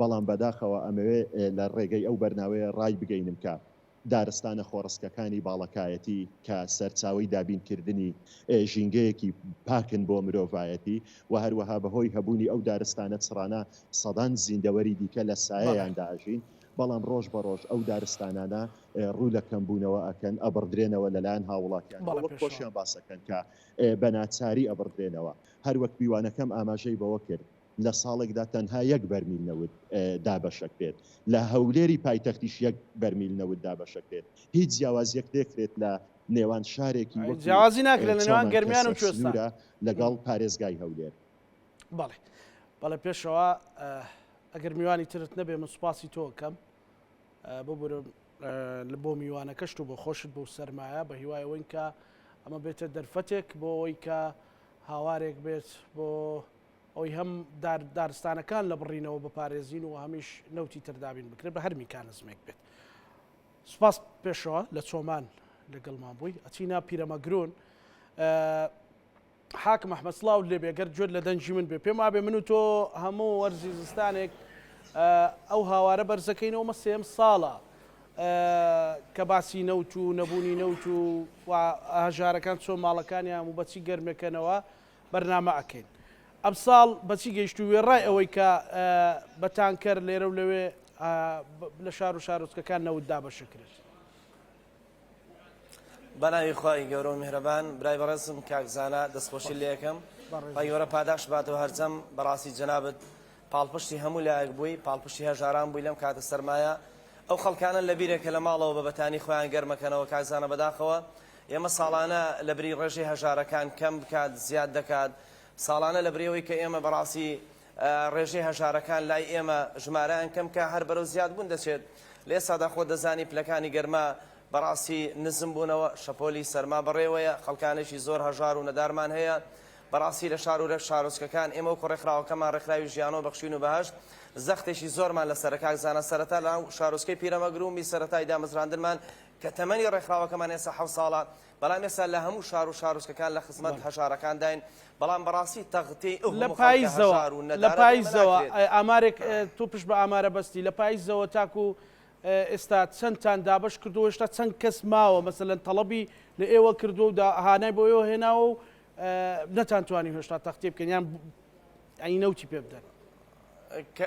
بەڵام بەداخەوە ئەمەوێ لە ڕێگەی ئەو بەرناوەیە ڕایبگەینم کە دارستانە خۆڕسکەکانی باڵەکایەتی کە سەرچاوەی دابینکردنی ژینگەیەکی پاکن بۆ مرۆڤایەتی و هەروەها بەهۆی هەبوونی ئەو دارستانە چڕانە سەدان زیندەوەری دیکە لە سایەیاندا ئەژین بەڵام ڕۆژ بە ڕۆژ ئەو دارستانانە ڕوو لە کەمبوونەوە ئەکەن ئەبڕدرێنەوە لەلایەن هاوڵاتیان وەک خۆشیان باسەکەن کە بەناچاری ئەبڕدرێنەوە هەروەک میوانەکەم ئاماژەی بەوە کرد لە ساڵێکدا تەنها یەک بەرمیل نەوت دابەشەکرێت، لە هەولێری پایتەختیش یەک بەرمیل نەوت دابەشەکرێت، هیچ جیاوازیەک نەکرێت لە نێوان شارێکی وەکو چۆمان کە سەرسنورە لەگەڵ پارێزگای هەولێر. بەڵێ بەڵێ پێشەوا ئەگەر میوانی ترت نەبێ من سوپاسی تۆ کەم ببورە لە بۆ میوانەکەشت و بۆ خۆشت بۆ سەرمایە بە هیوای ئەوەین کە ئەمە بێتە دەرفەتێک بۆ ئەوەی کە هاوارێک بێت بۆ ئەوەی هەم دار دارستانەکان لە بڕینەوە بپارێزین و هەمیش نەوتی تر دابین بکرێت بە هەر میکانزمێک بێت سپاس پێشەوە لە چۆمان لەگەڵمان بووی ئەچینا پیرەمەگرون حاکم ئەحمە سلااو لێ بێگەر جوێت لە دەنجی من بێ پێم وابێ من و تۆ هەموو وەرزی زستانێک ئەو هاوارە بەرزەکەینەوە مە سێم ساڵە کە باسی نەوت و نەبوونی نەوت و هەژارەکان چۆن ماڵەکانیان و بەچی گەرمەکەنەوە بەرنامە ئەکەین ئەم ساڵ بەچی گەیشتوو وێڕای ئەوەی کە بە تانکەر لێرە و لەوێ لە شار و شارۆچکەکان نەوت دابەشەکرێت. بەناوی خی گەورە و میهرەبان برای بەڕێزم کاکزانە دەستخۆشی لەکەم بەگەورە پاداش باتەوە هەرجەم بەڕاستی جەنابەت پاڵپشتی هەموو لایەک بووی پاڵپشتی هەژاران بووی لەم کاتە سەرمایە ئەو خەڵکانە لە بیرێکە لە ماڵەوە بە بەتانی خۆیان گەرمەکەنەوە کاکزانە بەداخەوە ئێمە ساڵانە لە بری ڕێژەی هەژارەکان کەم بکات زیاد دەکات ساڵانە لە بریەوەی کە ئێمە بەڕاستی ڕێژەی هەژارەکان لای ئێمە ژمارەیان کەم کە هەر بەرەو زیاد بوون دەچێت لێ سادا خۆ دەزانی پلەکانی گەرما بەڕاستی نزم بوونەوە شەپۆلی سەرما بەڕێوەیە خەڵکانێکی زۆر هەژار و نەدارمان هەیە بەڕاستی لە شار و رێک شارۆچکەکان ئێمە و کوڕێکخراوەکەمان ڕێکخراوی ژیانەوە بەخشین و بەهشت زەختێکی زۆرمان لەسەر کاک زانە سەرەتا لە شارۆچکەی پیرەمەگرومی سەرەتای دامەزراندنمان کە تەمەنی ڕێکخراوەکەمان ئێستا حەوت ساڵە، بەڵام ئێستا لە هەموو شار و شارۆچکەکان لە خزمەت بەڵێ. هەژارەکانداین، بەڵام بەڕاستی تەغتیەی ئه و لە هەموو خەڵکە پایزەوە هەژار و لە نەدارە لێمە پایزەوە ناکرێت. ئە ئامارێک ئە تۆ پشت بە ئامارە بەستی لە پایزەوە تاکو ئە ئێستا چەندتان دابەش کردووە هێشتا چەند کەس ماوە مەسەلەن تەڵەبی لە ئێوە کردووە و دا هانای بۆ ئێوە هێناوە و ئە نەتانتوانی هێشتا تەغتیە بکەن یان ب ینی نەوتی پێ بدەن؟ ئە کە.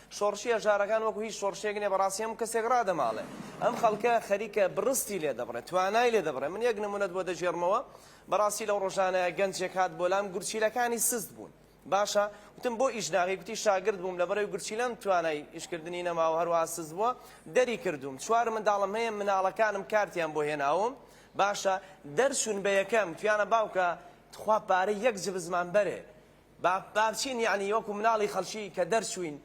شۆڕشی هەژارەکان وەکو هیچ شۆڕشێک نیە بەڕاستی هەموو کەسێک ڕادەماڵێ ئەم خەڵکە خەریکە بڕستی لێ دەبڕێ توانای لێ دەبڕێ من یەک نمونەت بۆ دەگێڕمەوە بەڕاستی لەو ڕۆژانەیە گەنجێک هات بۆ لام گورچیلەکانی سست بوون باشە وتم بۆ ئیش ناغی گوتی شاگرد بووم لەبەرەوەی گورچیلەم توانای ئیشکردنی نەماوە هەروە سست بووە دەری کردووم چوار منداڵم هەیە مناڵەکانم کارتیان بۆ هێناوم باشە دەرچوون بە یەکەم تویانە باوکە تخوا پارەی یەک جبزمان بەرێ با بچین یەعنی وەکو مناڵی خەڵکی کە دەرچوین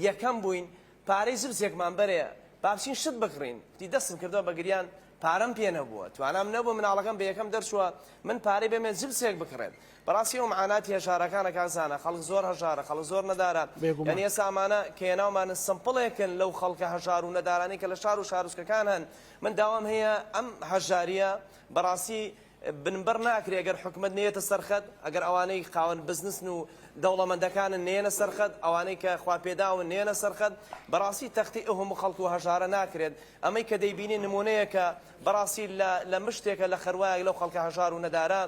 یەکەم بوین پارەی زبزێکمان بەرێ با بچین شت بکڕین کوتی دەستم کردوە بە گریان پارەم پێ نەبووە توانام نەبوو مناڵەکەم بە یەکەم دەرچوە من پارەی بەمێ زبزێک بکڕێت بەڕاستی ئەو معاناتی هەژارەکانە کاک زانا خەڵک زۆر هەژارە خەڵک زۆر نەدارە بێگومان یەعنی ئێستا ئەمانە کە هێناومانن سمپڵێکن لەو خەڵکە هەژار و نەدارانەی کە لە شار و شارۆچکەکان هەن من داوام هەیە ئەم هەژاریە بەڕاستی بنبڕ ناکرێ گەر حکومەت نەیەتە سەر خەت، ئەگەر ئەوانەی خاوەن بزنسن و دەوڵەمەندەکانن نەیەنە سەر خەت، ئەوانەی کە خواپێداون نەیەنە سەر خەت، بەڕاستی تەختی ئه و هەموو خەڵک و هەژارە ناکرێت، ئەمەی کە دەیبینین نموونەیەکە بەڕاستی لە لە مشتێکە لە خەروایەک لەو خەڵکە هەژار و نەدارە،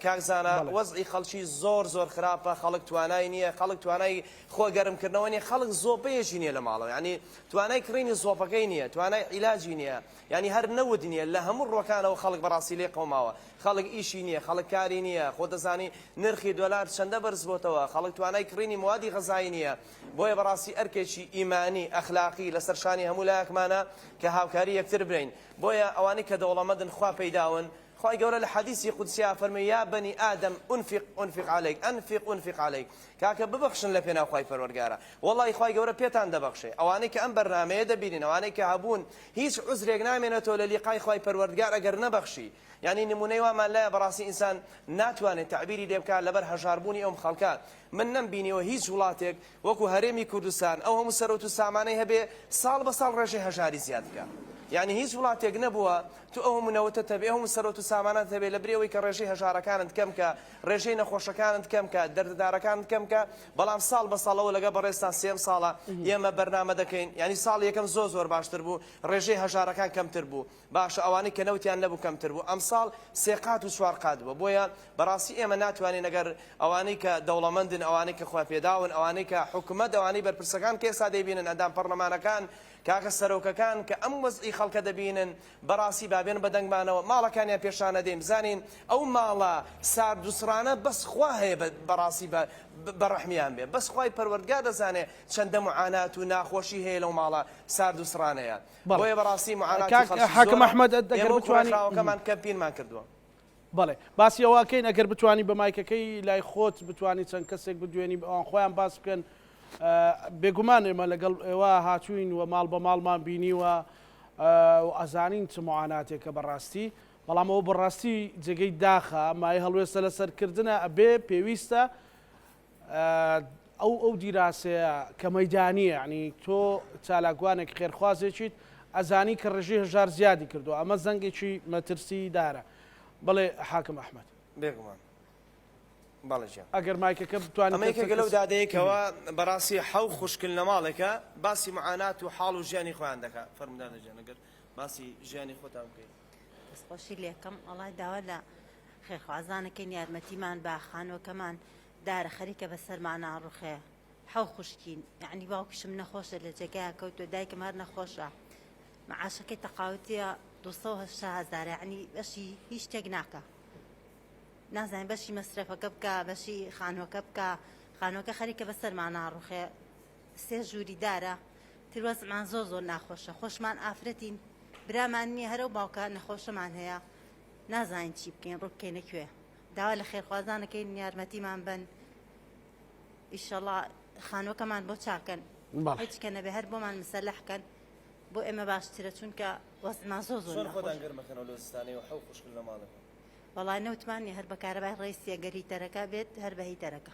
کاک زانا بەڵێ. وەزعی خەڵکی زۆر زۆر خراپە، خەڵک توانای نییە، خەڵک توانای خۆ گەرم کردنەوە نییە، خەڵک زۆپەیەکی نییە لە ماڵەوە یانی توانای کڕینی زۆپەکەی نییە، توانای عیلاجی نییە، یانی هەر نەوت نیە لە هەموو ڕوەکانەوە خەڵک بەڕاستی لێ قەوماوە خەڵک ئیشی نیە خەڵک کاری نیە خۆ دەزانی نرخی دۆلار چەندە بەرز بۆتەوە خەڵک توانای کڕینی موادی غەزایی نیە بۆیە بەڕاستی ئەرکێکی ئیمانی ئەخلاقی لەسەر شانی هەموو لایەکمانە کە هاوکاری یەکتر بین بۆیە ئەوانەی کە دەوڵەمەندن خوا پەیداون خوای گەورە لە حەدیسی قودسیا فەرمی یا بەنی ئادەم ئونفیق ئونفیق علیک ئەنفیق ئونفیق علیک کاکە ببەخشن لە پێناو خوای پەروەرگارە وەڵای خوای گەورە پێتان دەبەخشێ ئەوانەی کە ئەم بەرنامەیە دەبینن ئەوانەی کە هەبوون هیچ عوزرێک نامێنێتەوە لە لیقای خوای پەروەردگار ئەگەر نەبەخشی یانی نمونەی وامان لایە بەڕاستی ئینسان ناتوانێت تەعبیری لێ بکات لەبەر هەژار بوونی ئەوم خەڵکە من نەم بینیوە هیچ وڵاتێک وەکو هەرێمی کوردستان ئەو هەموو سەرۆت و سامانەی هەبێ ساڵ بە ساڵ ڕێژەی هەژاری زیاد بکە یعنی هیچ وڵاتێک نەبووە تو ئەو هەموو نەوتە تەبێ هەموو سەرۆت و سامانات هەبێ لە برێەوەی کە ڕێژەی هەژارەکانت کەم کە ڕێژەی نەخۆشەکانت کەم کە دەردەدارەکانت کەم کە بەڵام ساڵ بە ساڵەوە لەگەڵ بەڕێزتان سێیەم ساڵە ئێمە بەرنامە دەکەین یانی ساڵ یەکەم زۆر زۆر باشتر بوو ڕێژەی هەژارەکان کەمتر بوو باشە ئەوانەی کە نەوتیان نەبوو کەمتر بوو ئەم ساڵ سێ قات و چوار قات بووە بۆیە بەڕاستی ئێمە ناتوانین نەگەر ئەوانەی کە دەوڵەمەندن ئەوانەی کە خۆیان پێداون ئەوانەی کە حکومەت ئەوانەی بەرپرسەکان کە ئێستا دەیبینن ئەندام پەڕلەمانەکان کاکە سەرۆکەکان کە ئەم وەزعی خەڵکە دەبینن بەڕاستی بابێن بەدەنگمانەوە ماڵەکانیان پێشانەدەین بزانین ئەو ماڵە ساردوسڕانە بەس خوا هەیە بەڕاستی بە بەڕەحمیان بێ بەس خوای پەروەردگار دەزانێ چەندە معانات و ناخۆشی هەیە لەو ماڵە ساردوسڕانەیە بۆیە بەڕاستی معاناتی خەڵکی زۆرە ئێمە و کوڕەکەمان کەمپینمان کردووە. بەڵێ باسی ئەوە کەین ئەگەر بتوانی بە مایکەکەی لای خۆت بتانی چەند کەسێک بدوێنی ئەوان خۆیان باس بکەن بێگومان ئێمە لەگەڵ ئێوە هاتوین و ماڵ بە ماڵمان بینیوە و ئەزانین چ معاناتێکە بەڕاستی بەڵام ئەوە بەڕاستی جێگەی داخە مای هەڵوێستە لە سەرکردە ئەبێ پێویستە ئەو ئەو دیراسەیە کە مەیدانیە ینی تۆ چالاکوانێک خێرخوازێکیت ئەزانی کە ڕژی هەژار زیادی کردو ئەمە زەنگێکی مەترسی دارە بڵێ حاکم ئەحمد بێگومان ئەگەر مایکەکە بتوانێتێکە لەو دادەیەکەوە بەڕاستی حەو خوشکل لەماڵێکە باسی معانات و حاڵ و ژیانی خۆیان دەکات فەرمدانەجانەگەر باسی ژیانی خۆتان بکەیت دەستخۆشی لێکەم ئەڵای داوا لە خێرخوازانەکەین یارمەتیمان بە خانوەکەمان دارە خەریکە بەسەرمان ناڕوخێ حەو خوشکین یعنی باوکیشم نەخۆشە لە جێگای کەوتوە دایکم هەر نەخۆشە معاشەکەی تەقاوتیە 280 هزار یعنی بەشی هیچ شتێک ناکە نازانین بەشی مەسرەفەکە بکە بەشی خانوەکە بکە خانوەکە خەریکە بەسەرمان ناڕوخێ سێ ژووری دارە تروەزعمان زۆر زۆر ناخۆشە خۆشمان ئافرەتین برامان نییە هەرەو باوکە نەخۆشەمان هەیە نازانین چی بکەین ڕووبکەینە کوێ داوا لە خێرخوازانەکەین یارمەتیمان بن ئیشەڵا خانوەکەمان بۆ چاکەن هیچ کە نەبێ هەر بۆمان مسەلحکەن بۆ ئێمە باشترە چونکە وەزما زۆ زۆر وڵای نەوتمانی هەر بەکارەبای ڕێسیە گەری تەرەکە بێت هەر بەهی تەرەکە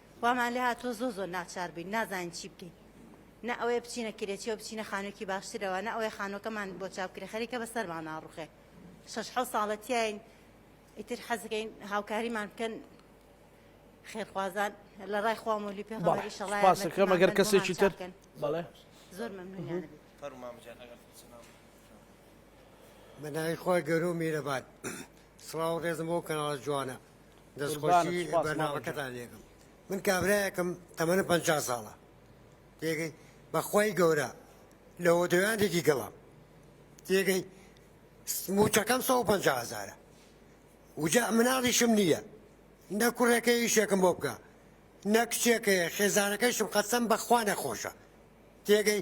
وامان لێ هاتووە زۆر زۆر ناچار بووین نازانین چی بکەین نە ئەوەیە بچینە کرێچیەوە بچینە خانوویەکی باشترەوە نە ئەوەیە خانووەکەمان بۆ چاو کرێ خەریکە بە سەرمان ناڕوخێ شەش حەوت ساڵە تیاین ئیتر حەز دەکەین هاوکاریمان بکەن خێرخوازان لە ڕای خوا مۆلی پێغەمبەری شەڵای سوپاسەکە مەگەر کەسێکی تر بەڵێ زۆر مەمنونیان فەرمام جان ئەگەر بە ناوی خۆی گەرو میرەبان سڵاو و ڕێزم بۆ کەناڵە جوانە دەستخۆشی بەرنامەکەتان لێکم من کابراەکم تەمەنە پ ساڵە تێگەی بەخوای گەورە لە هۆدەویانێکی گەڵام تێگەی موچەکەم 150هزارە وجا مناڵیشم نییە نە کوڕەکە یشێکم بۆ بکە نە کچێکەیە خێزانەکەشم قەسەم بەخوا نەخۆشە تێگەی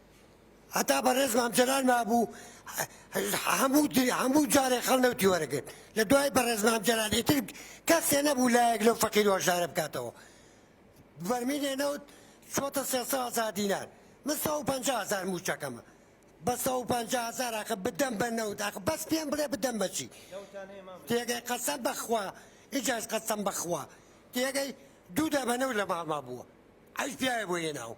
هەتا بەڕێز مام جەلال مابوو هەموو هەموو جارێک خەڵ نەوتی وەرەگرت لە دوای بەڕێز مام جەلال ئیتر کەسێ نەبوو لایەک لەو فەقیر وەشارە بکاتەوە بەرمینێ نەوت چۆتە سێ هزار دینار من سە و پنج هزار موچەکەمە بە سە و پنج هزار ئاخە بدەم بە نەوت ئاخ بەس پێم بڵێ بدەم بەچی تێگەی قەسەم بەخوا ئیجاش قەسەم بەخوا تێگەی دوو دابەنەوت لە ماڵما بووە ئەوش پیاوێ بۆ هێناوە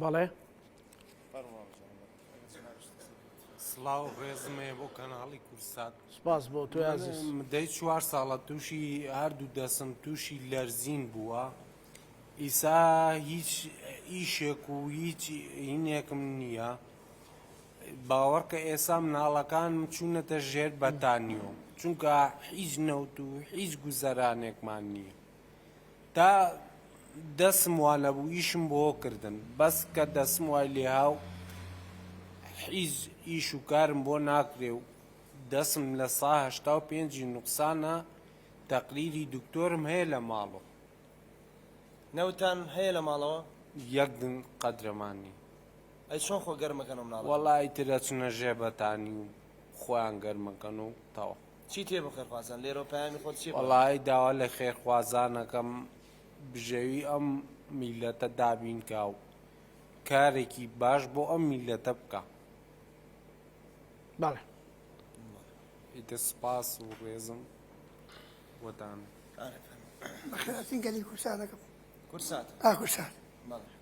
بەڵێ سلااو ڕێزمێ بۆ کەناڵی کورسات سپاس بۆ تو دەی چوار ساڵە تووشی هەردوو دەسم تووشی لەرزین بووە ئیسا هیچ ئیشێک و هیچ هینێکم نییە باوەڕکە ئێسا مناڵەکان چوونەتە ژێر بەتانیۆ چونکە هیچ نەوت و هیچ گوزەرانێکمان نییە تا دەسم وا نەبوو ئیشم بۆ کردن بەس کە دەسم وای لێها و حیز ئیش و کارم بۆ ناکرێ و دەسم لە سا هەشتا و پێنجی نوقسانە تەقریری دکتۆرم هەیە لە ماڵەوە. نەوتان هەیە لە ماڵەوە؟ یەک دن قەدرەمان نی. ئەی چۆن خۆ گەرم ئەکەن ئەو مناڵانە؟ وەڵا ئیتر ئەچنە ژێ بەتانی و خۆیان گەرم ئەکەن و تەواو. چی تێ بۆ خێرخوازان لێرەوە پەیامی خۆت چیە بۆیان؟ وەڵایی داوا لە خێرخوازان ئەکەم بژێوی ئەم میلەتە دابین کا و کارێکی باش بۆ ئەم میلەتە بکا. بەڵێ. ئیتر سپاس و ڕێزم بۆتان. بەخێرهاتن گەلی کورساتەکەم. کورسات. ئا کورسات. بەڵێ.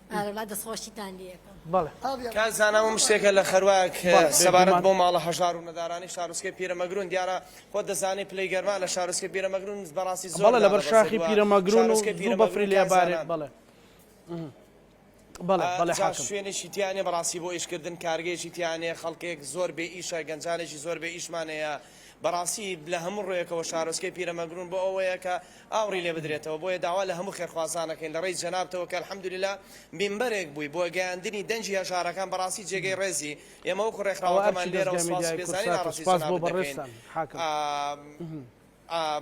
ئارەڵا دەسخۆشیتان لێ ئەکەم. بەڵێ. کاک زانا وم شتێکە لە خەرواک سەبارەت بۆ ماڵە هەژار و نەدارانی شارۆچکەی پیرەمەگرون دیارە خۆت دەزانی پلەی گەرما لە شارۆچکەی پیرەمەگرون بەڕاستی زۆر بەڵێ لەبەر شاخی پیرەمەگرون و زوو بەفری لێ ئەبارێت بەڵێ بەڵێ بەڵێ جا حاکم شوێنێکی تیا نیە بەڕاستی بۆ ئیشکردن کارگەیەکی تیا نیە خەڵکێک زۆر بێ ئیشە گەنجانێکی زۆر بێ ئیشمان هەیە بەڕاستی لە هەموو ڕوویەکەوە شارۆچکەی پیرەمەگرون بۆ ئەوەیە کە ئاوڕی لێ بدرێتەوە، بۆیە داوا لە هەموو خێرخوازان ئەکەین لە ڕێی جەنابتەوە کە الحمدللە مینبەرێک بووی بۆ گەیاندنی دەنگی هەژارەکان بەڕاستی جێگەی ڕێزی، ئێمە وەکو ڕێکخراوەکەمان لێرەوە سوپاس و پێزانی ناڕەزی جەنابت دەکەین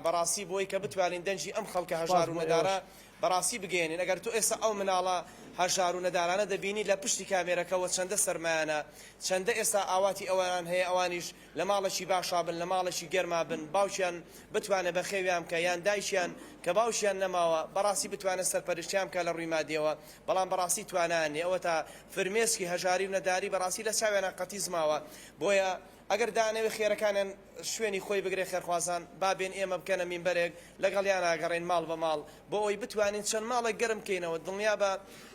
بەڕاستی بۆی کە بتوانین دەنگی ئەم خەڵکە هەژار و نەدارە بەڕاستی بگەیەنین، ئەگەر تۆ ئێستا ئەو مناڵە هەژار و نەدارانە دەبینی لە پشتی کامێرەکەوە چەندە سەرمایانە چەندە ئێستا ئاواتی ئەوان هەیە ئەوانیش لە ماڵێکی باشا بن، لە ماڵێکی گەرما بن، باوکیان بتوانێت بەخێویان بکات، یان دایکیان کە باوکیان نەماوە، بەڕاستی بتوانێت سەرپەرشتیان بکات لە ڕووی مادییەوە، بەڵام بەڕاستی توانایان نییە، ئەوەتا فرمێسکی هەژاری و نەداری بەڕاستی لە چاویانا قەتیس ماوە، بۆیە ئەگەر دانەوێت خێرەکانیان شوێنی خۆی بگرێت خێرخوازان با بێن ئێمە بکەنە مینبەرێک لەگەڵیان ئاگەڕێین ماڵ بە ماڵ بۆ ئەوەی بتوانین چەند ماڵێک گەرم بکەینەوە، دڵنیابە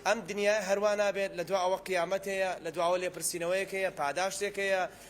ئەم دنیایە هەروا نابێت، لە دوا ئەوە قیامەت هەیە، لە دواوە لێپرسینەوەیەک هەیە، پاداشتێک هەیە،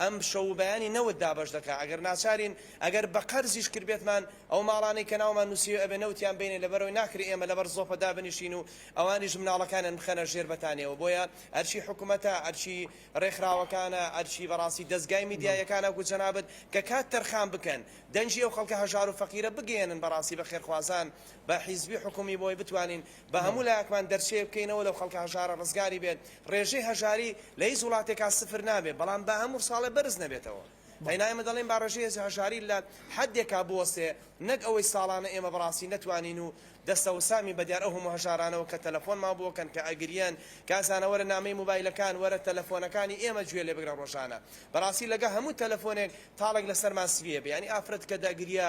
ئەم شەو و بەیانی نەوت دابەش دەکا ئەگەر ناچارین ئەگەر بە قەرزیش کردبێتمان ئەو ماڵانەی کە ناومان نوسیوە ئەبێ نەوتیان بەینێ لەبەرئەوەی ناکرێ ئێمە لەبەر زۆپە دابنیشین و ئەوانیش مناڵەکانیان بخەنە ژێر بەتانیەوە بۆیە ئەرکی حکومەتە ئەرکی رێکخراوەکانە ئەرکی بەڕاستی دەزگای میدیایەکانە وەکو جەنابت کە کات تەرخان بکەن دەنگی ئەو خەڵکە هەژارو فەقیرە بگەیەنن بەڕاستی بە خێرخوازان بە حیزبی حکومی بۆی بتوانین با هەموو لایەکمان دەرچەیەک بکەینەوە لەو خەڵکە هەژارە ڕزگاری بێت، ڕێژەی هەژاری لە هیچ وڵاتێکا سفر نابێت بەڵام با هەموو ساڵێ بەرز نەبێتەوە، قەینا ئێمە دەڵێین با ڕێژەی هەژاری لە حەدێکا بوەستێ نەک ئەوەی ساڵانە ئێمە بەڕاستی نەتوانین و دەستەوسامین بەدیار ئەو هەموو هەژارانەوە کە تەلەفۆنمان بۆ کەن کە ئەگریەن کە ئەزانە وەرە نامەی موبایلەکان وەرە تەلەفۆنەکانی ئێمە گوێ لێ بگرە ڕۆژانە بەڕاستی لەگە هەموو تەلەفۆنێک تاڵێک لەسەرمان سڤیە بەیانی ئافرەت کە دەگریا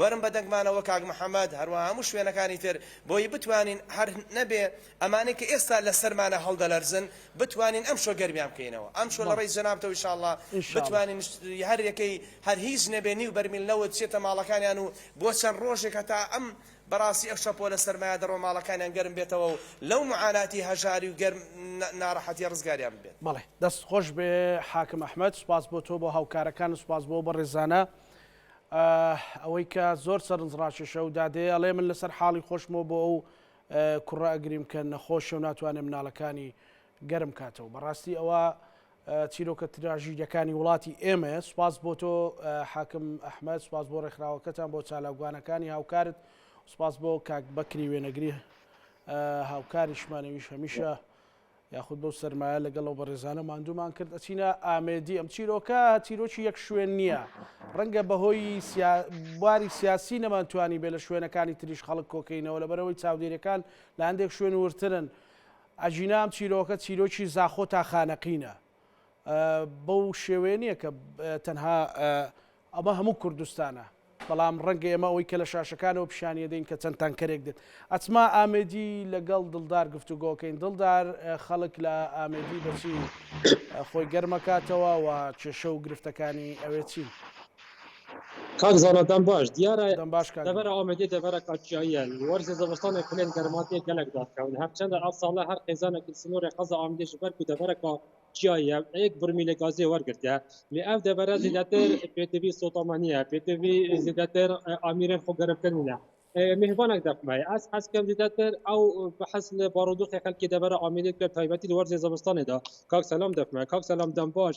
وەرن بە دەنگمانەوە کاک محمد هەروەها هەموو شوێنەکانی تر بۆی بتوانین هەر نەبێ ئەمانەی کە ئێستا لە سەرمانە هەڵدەلەرزن بتوانین ئەمشۆ گەرمیان بکەینەوە ئەمشۆ لە ڕێی جەنابتەوە ان شاءاللە بتوانین هەر یەکەی هەر هیچ نەبێ نیو بەرمیل نەوت چێتە ماڵەکانیان و بۆ چەند ڕۆژێک هەتا ئەم بەڕاستی ئەو شەپۆلە سەرمایە دەڕۆ ماڵەکانیان گەرم بێتەوە و لەو معاناتی هەژاری و گەرم ناڕەحەتیە ڕزگاریان ببێت. بەڵێ دەست خۆش بێ حاکم احمد سوپاس بۆ تۆ بۆ هاوکارەکانت سوپاس بۆ ئەو بەڕێزانە ئاه ئەوەی کە زۆر سەرنج ڕاکێشە و دادەیە ئەڵێ من لەسەر حاڵی خۆشمەوە بۆ ئەو کوڕە ئەگریم کە نەخۆشە و ناتوانێت مناڵەکانی گەرم کاتەوە بەڕاستی ئەوە چیرۆکە تراژیدەکانی وڵاتی ئێمە سوپاس بۆ تۆ حاکم ئەحمد سوپاس بۆ ڕێکخراوەکەتان بۆ چالاوگوانەکانی هاوکارت سوپاس بۆ کاک بەکری وێنەگری هاوکاریشمانەویش هەمیشە یاخود بەو سەرمایە لەگەڵ ئەو بەڕێزانە ماندوومان کرد ئەچینە ئامێدی ئەم چیرۆکە چیرۆکی یەک شوێن نییە ڕەنگە بەهۆی باری سیاسی نەمانتوانی بێ لە شوێنەکانی تریش خەڵک کۆکەینەوە لەبەرەوەی چاودێرەکان لە هەندێک شوێن ورترن ئەژینام چیرۆکە چیرۆکی زاخۆ تا خانەقینە بەو شێوەیە نییە کە تەنها ئەمە هەموو کوردستانە بەڵام ڕەنگە ئێمە ئەوەی کە لە شاشەکانەوە پیشانیە دەین کە چەند تانکەرێک دێت ئەچما ئامێدی لەگەڵ دڵدار گفتوگۆکەین دڵدار خەڵک لە ئامێدی بەچی خۆی گەرمەکاتەوە و کێشە و گرفتەکانی ئەوێ چین. کاک زانا دەم باش دیارە دەم باش کاک دەڤەرە دەم ئامێدی دەڤەرە کاکیاییە لە وەرزی زەوستانێ پلێن گەرما تێ گەلەک داکەون هەرچەندە ئەڤ ساڵە هەر خێزانێکل سنوورێ قەزا ئامێدی ژ بەر کو دەڤەرە کا کیاییە ئێک برمیلێ گازێ وەرگرتە لێ ئەڤ دەڤەرە زێدەتر پێتڤی سوتاما نییە پێتڤی زێدەتر ئامیرێن خۆ گەرمتر نینە مهربانک دەفمای ئەز حەز کەم زێدەتر ئەو بەحەز لە بارودوخێ خەلکی دەڤەرە ئامێدی کە تایبەتی لە وەرزێ زەوستانێ دا کاک سەلام دەفمای کاک سەلام دەم باش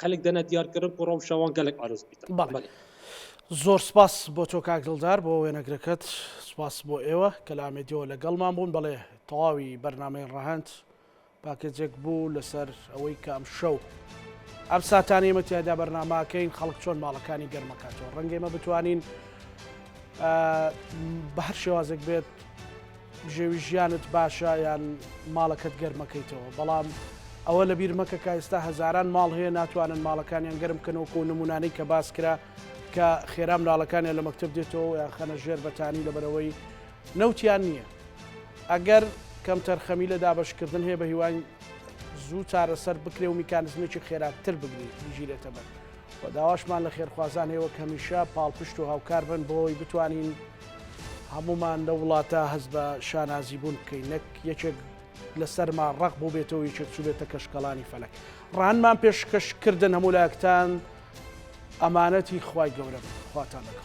خەلک دەنە دیار کردن کۆ ڕەوشە وان گەلەک ئارەز بیتە. بەلی. زۆر سپاس بۆ تۆ کاک دڵدار بۆ وێنەگرەکەت سپاس بۆ ئێوە کە لە ئامێدیەوە لەگەڵمان بوون بەڵێ تەواوی بەرنمەی ڕەهەند پاکێجێک بوو لەسەر ئەوەی کە ئەم شەو ئەم ساتانی ئمە تیادا بەرنماکەین خەڵک چۆن ماڵەکانی گەرمەکاتەوە ڕەنگێمە بتوانین بە هەر شێوازێک بێت بژێوی ژیانت باشە یان ماڵەکەت گەرم مەکەیتەوە بەڵام ئەوە لەبیر مەکە کە ئێستا هەزاران ماڵ هەیە ناتوانن ماڵەکانیان گەرم بکەنەوەکو و نمونانەی کە باس کرا کە خێرا مناڵەکانیان لە مەکتب دێتەوە یان خەنە ژێر بەتانی لەبەرەوەی نەوتیان نییە ئەگەر کەمتەرخەمی لە دابەشکردن هەیە بە هیواین زوو چارەسەر بکرێ و میکانزمێکی خێراتر بگری بگیرێتە بەر و داواشمان لە خێرخوازان هەیە وەک هەمیشە پاڵپشت و هاوکار بن بۆی بتوانین هەموومان لەو وڵاتە هەست بە شانازی بوون بکەین نەک یەکێک لە سەرما ڕق بوو بێتەوە یەکێک چوو بێتە کەشکەڵانی فەلک ڕانمان پێشکەشکردن هەموو لایەکتان ئەمانەتی خوای گەورە خواتان لەگەڵ